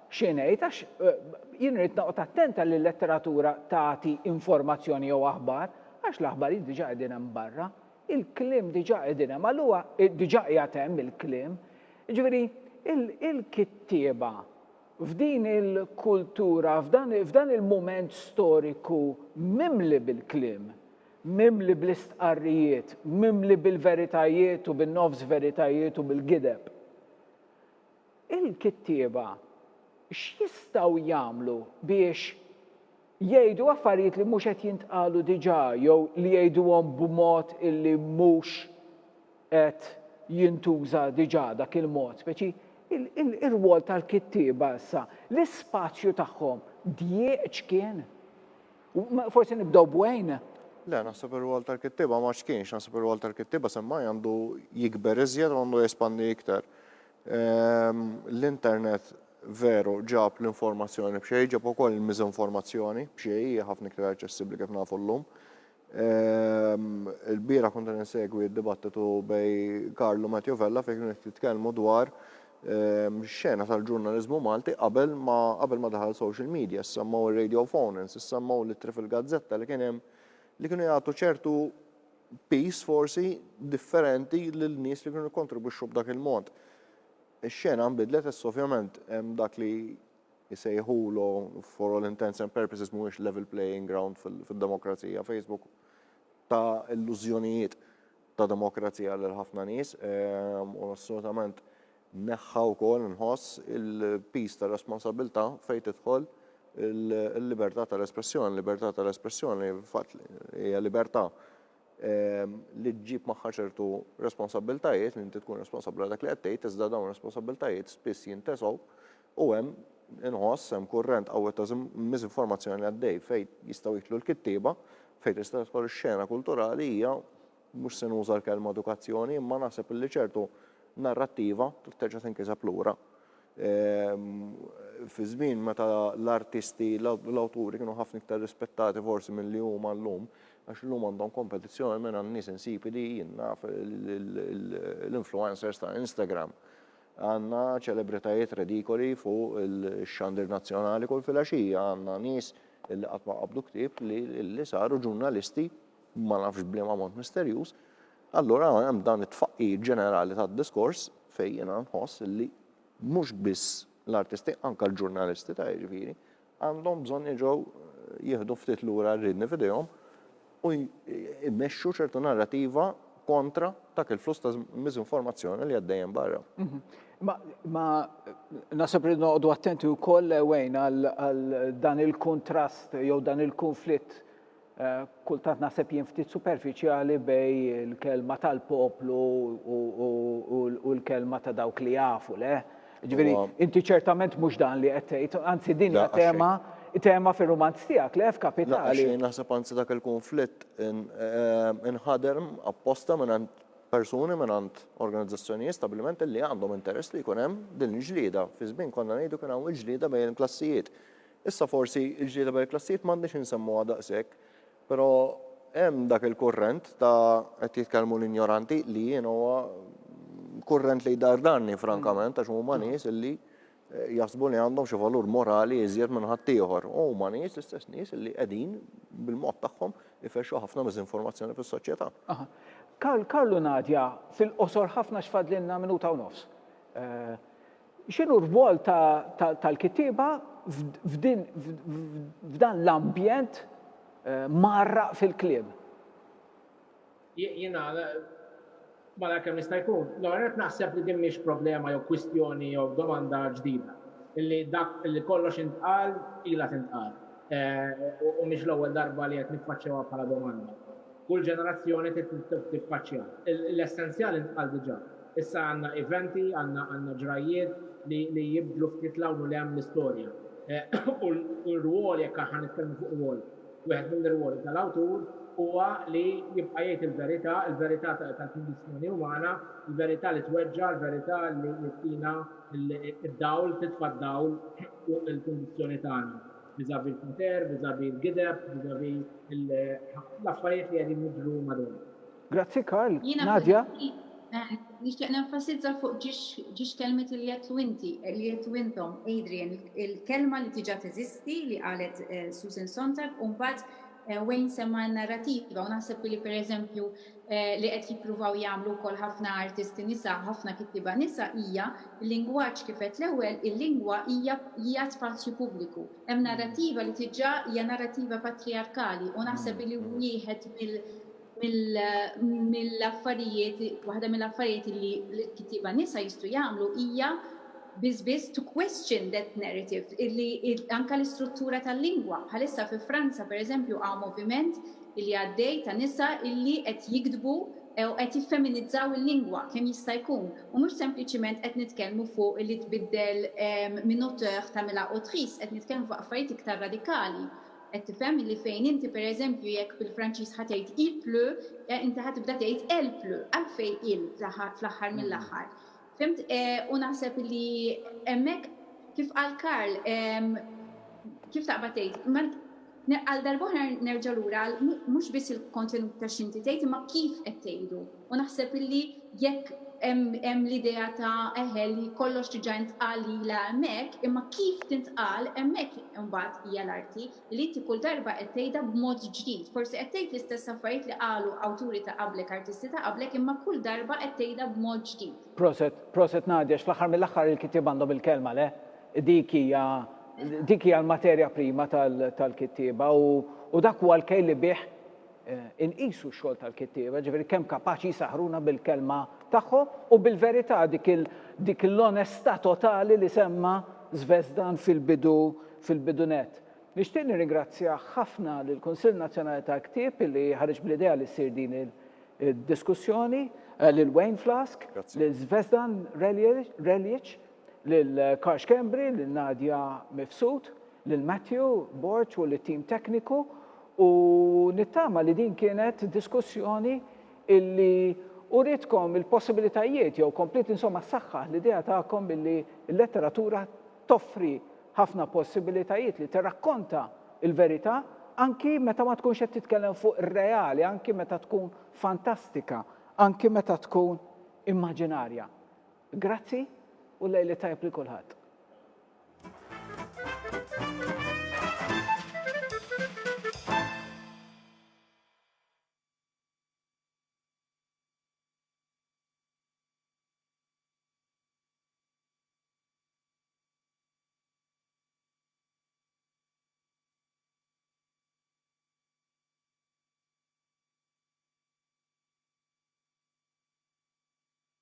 xi ngħid għax eh, jien rrid noqgħod attenta li l-letteratura tagħti informazzjoni jew aħbar għax l-aħbarijiet diġà qegħdin hemm barra, il-kliem diġà qegħdin hemm, allura eh, diġà qiegħed hemm il-kliem. Jiġifieri il-kittieba F'din il-kultura, f'dan il-mument storiku mimli bil-kliem, mimli bl-istqarrijiet, mimli bil-veritajiet u bin-nofs veritajiet u bil-gideb, il-kittieba x'jistgħu jagħmlu biex jgħidu affarijiet li mhux qed jintqalu diġà jew li jgħiduhom b'mod illi mhux qed jintuża diġà dak il-mod, speċi ir-rwol tal-kittieba issa, l-ispazju tagħhom djieq x'kien? Forsi nibdew b'Wayne? Le, naħseb ir-rwol tal-kittieba ma x'kienx, naħseb ir-rwol tal-kittieba semmai għandu jikber iżjed u għandu jespandi iktar. L-internet veru ġab l-informazzjoni b'xejn, ġab ukoll il-miżinformazzjoni b'xejn, hija ħafna iktar aċċessibbli kif nafu llum. Il-bieraħ kont qed insegwi d-dibattitu bej Karlu Matthew Vella fejn kienu qed jitkellmu dwar xena tal-ġurnaliżmu Malti qabel ma qabel ma daħal social media, semmaw ir-radio phonens, semmaw l-ittri fil-gazzetta li kien hemm li kienu jagħtu ċertu peace forsi differenti lil nies li kienu jikkontribwixxu b'dak il-mod. Ix-xena nbidlet issa ovvjament hemm dak li isejħulu for all intents and purposes mhuwiex level playing ground fid-demokrazija. Facebook ta' illużjonijiet ta' demokrazija lil ħafna nies ehm, u assolutament neħħa wkoll nħoss il-pis ta' responsabilità fejn tidħol il-libertà tal-espressjoni, libertà tal-espressjoni fatt hija libertà ehm, li ġġib magħha ċertu responsabiltajiet, li inti tkun responsabbli dak li qed tgħid, iżda dawn responsabiltajiet spiss jintesgħu U hemm, inħoss, hemm kurrent qawwi ta' miżinformazzjoni għaddej fejn jistgħu jidħlu l-kittieba, fejn tista' tidħol ix-xena kulturali hija, mhux se nuża l-kelma edukazzjoni, imma naħseb illi ċertu narrattiva trid terġa' tinkiseb lura. Fi żmien meta l-artisti, l-awturi kienu ħafna iktar rispettati forsi milli huma llum, għax illum għandhom kompetizzjoni mingħand nies insipidi, jien naf l-influencers ta' Instagram. Għandna ċelebritajiet redikoli fuq ix-xandir nazzjonali kull filgħaxija, għandna nies li qatt ma qabdu ktieb li saru ġurnalisti ma nafx b'liema mod misterjuż. Allura hemm dan it-tfaqqigħ ġenerali tad-diskors fejn jiena nħoss li mhux biss l-artisti, anke l-ġurnalisti ta' jiġifieri, għandhom bżonn jerġgħu jieħdu ftit lura r-riedni f'idejhom u jmexxu ċertu narrativa kontra dak il-fluss ta' miżinformazzjoni li għaddej hemm barra. Mhm. Ma nasab li noqogħdu attenti wkoll wejn għal dan il-kontrast jew dan il-konflitt Kultant naħseb jien ftit superfiċjali bejn il-kelma tal-poplu u l-kelma ta' dawk li jafu, le? Ġifieri, inti ċertament mhux dan li qed tgħid, anzi din hija tema tema fir-rumanz tiegħek, le, f'Kapitali. Le, naħseb anzi dak il-kunflitt inħadem apposta mingħand persuni, mingħand organizzazzjonijiet, stabbilimenti li għandhom interess li jkun hemm din il-ġlieda. Fi żmien konna ngħidu kien hawn il-ġlieda bejn il-klassijiet. Issa forsi l-ġlieda bejn il-klassijiet m'għandniex insemmuha daqshekk, però hemm dak il-kurrent ta' qed jitkellmu l-injoranti li jiena huwa kurrent li jdardarni frankament għax huma nies li jaħsbu li għandhom xi valur morali iżjed minn ħaddieħor. U huma nies l-istess nies li qegħdin bil-mod tagħhom ifexxu ħafna miżinformazzjoni fis-soċjetà. Aha. Karl, Karl u Nadia, fil-qosor ħafna għax fadlilna minuta u nofs. X'inhu r-rwol tal-kittieba f'dan l-ambjent mgħarraq fil-kliem? Jien nagħlaq malajr kemm jista' jkun. L-ewwel nett naħseb li din mhix problema jew kwistjoni jew domanda ġdida. Illi dak li kollox intqal ilha tintqal. U mhix l-ewwel darba li qed niffaċċjawha bħala domanda. Kull ġenerazzjoni trid tiffaċċjaha. L-essenzjal intqal diġà. Issa għandna eventi, għandna ġrajjiet li jibdlu ftit 'l hawn u 'l hemm l-istorja. U l-rwol, jekk aħna nitkellmu fuq rwol, wieħed mill-irwoli tal-awtur huwa li jibqa' jgħid il-verità, il-verità tal-kundizzjoni umana, il-verità li tweġġa', il-verità li ttina d-dawl, titfa' d-dawl fuq il-kundizzjoni tagħna viżavi l-poter, viżavi l-gideb, viżavi l-affarijiet li qegħdin jiġru madwarna. Grazzi Karl, Nadia. Jiena peress nixtieq nenfasizza fuq ġiex kelmiet li għedtu inti, li għedtu intom, Adrian, il-kelma li diġà teżisti li qalet Susan Sontag u mbagħad Wayne semma n-narrativa u naħseb li pereżempju li qed jippruvaw jagħmlu wkoll ħafna artisti nisa, ħafna kittieba nisa hija l-lingwaġġ kif għedt l-ewwel, il-lingwa hija hija spazju pubbliku. Hemm narrativa li diġà hija narrativa patrijarkali u naħseb li wieħed mill mill-affarijiet, waħda mill-affarijiet li l-kittiba nisa jistgħu jagħmlu hija biss biss to question that narrative, illi anka l-istruttura tal-lingwa. Bħalissa fi Franza, per eżempju, għaw moviment illi għaddej ta' nisa illi qed jiktbu u qed jiffeminizzaw il-lingwa kemm jista' jkun. U mhux sempliċiment qed nitkellmu fuq illi tbiddel minn auteur tagħmilha autrice, qed nitkellmu fuq affarijiet iktar radikali. Qed tifhem illi fejn inti per eżempju jekk bil-Franċiż ħa tgħid il pleut, eh, inti ħa tibda tgħid elle pleut, għalfejn il fl-aħħar mill-aħħar? Fhimt? U naħseb illi hemmhekk kif qal Karl, ehm, kif taqbad tgħid, għal darb'oħra nerġa' lura għal mhux biss il-kontenut ta' x'inti tgħid imma kif qed tgħidu. U naħseb illi jekk hemm l-idea ta' eħe li kollox diġà intqal lilha hemmhekk, imma kif tintqal hemmhekk imbagħad hija l-arti, li inti kull darba qed tgħidha b'mod ġdid. Forsi qed tgħid l-istess affarijiet li qalu awturi ta' qablek, artisti ta' qablek, imma kull darba qed tgħidha b'mod ġdid. Proset, proset Nadia, x'fl-aħħar mill-aħħar il-kittieb għandhom il-kelma, le? Dik hija, dik hija l-materja prima tal-kittieba u dak huwa l-kejl li bih Inqisu x-xogħol tal-kittieba, ġifieri kemm kapaċi jsaħħruna bil-kelma tagħhom u bil-verità, dik il, dik il-onestà totali li semma Zvezdan fil-bidu, fil-bidu nett. Nixtieq nirringrazzja ħafna lill-Kunsill Nazzjonali tal-Ktieb li ħareġ bl-idea li ssir din il, id-diskussjoni, lil Wayne Flask, lil Zvezdan Reljic, lil Karl Schembri, lil Nadia Mifsud, lil Matthew Borg u lit-tim tekniku u nittama li din kienet diskussjoni illi uritkom il-possibilitajiet jew kompliet insomma ssaħħaħ l-idea tagħkom illi l-letteratura toffri ħafna possibilitajiet li tirrakkonta l-verità anki meta ma tkunx qed titkellem fuq ir-reali, anki meta tkun fantastika, anki meta tkun immaġinarja. Grazzi u lejl it-tajjeb lil kulħadd.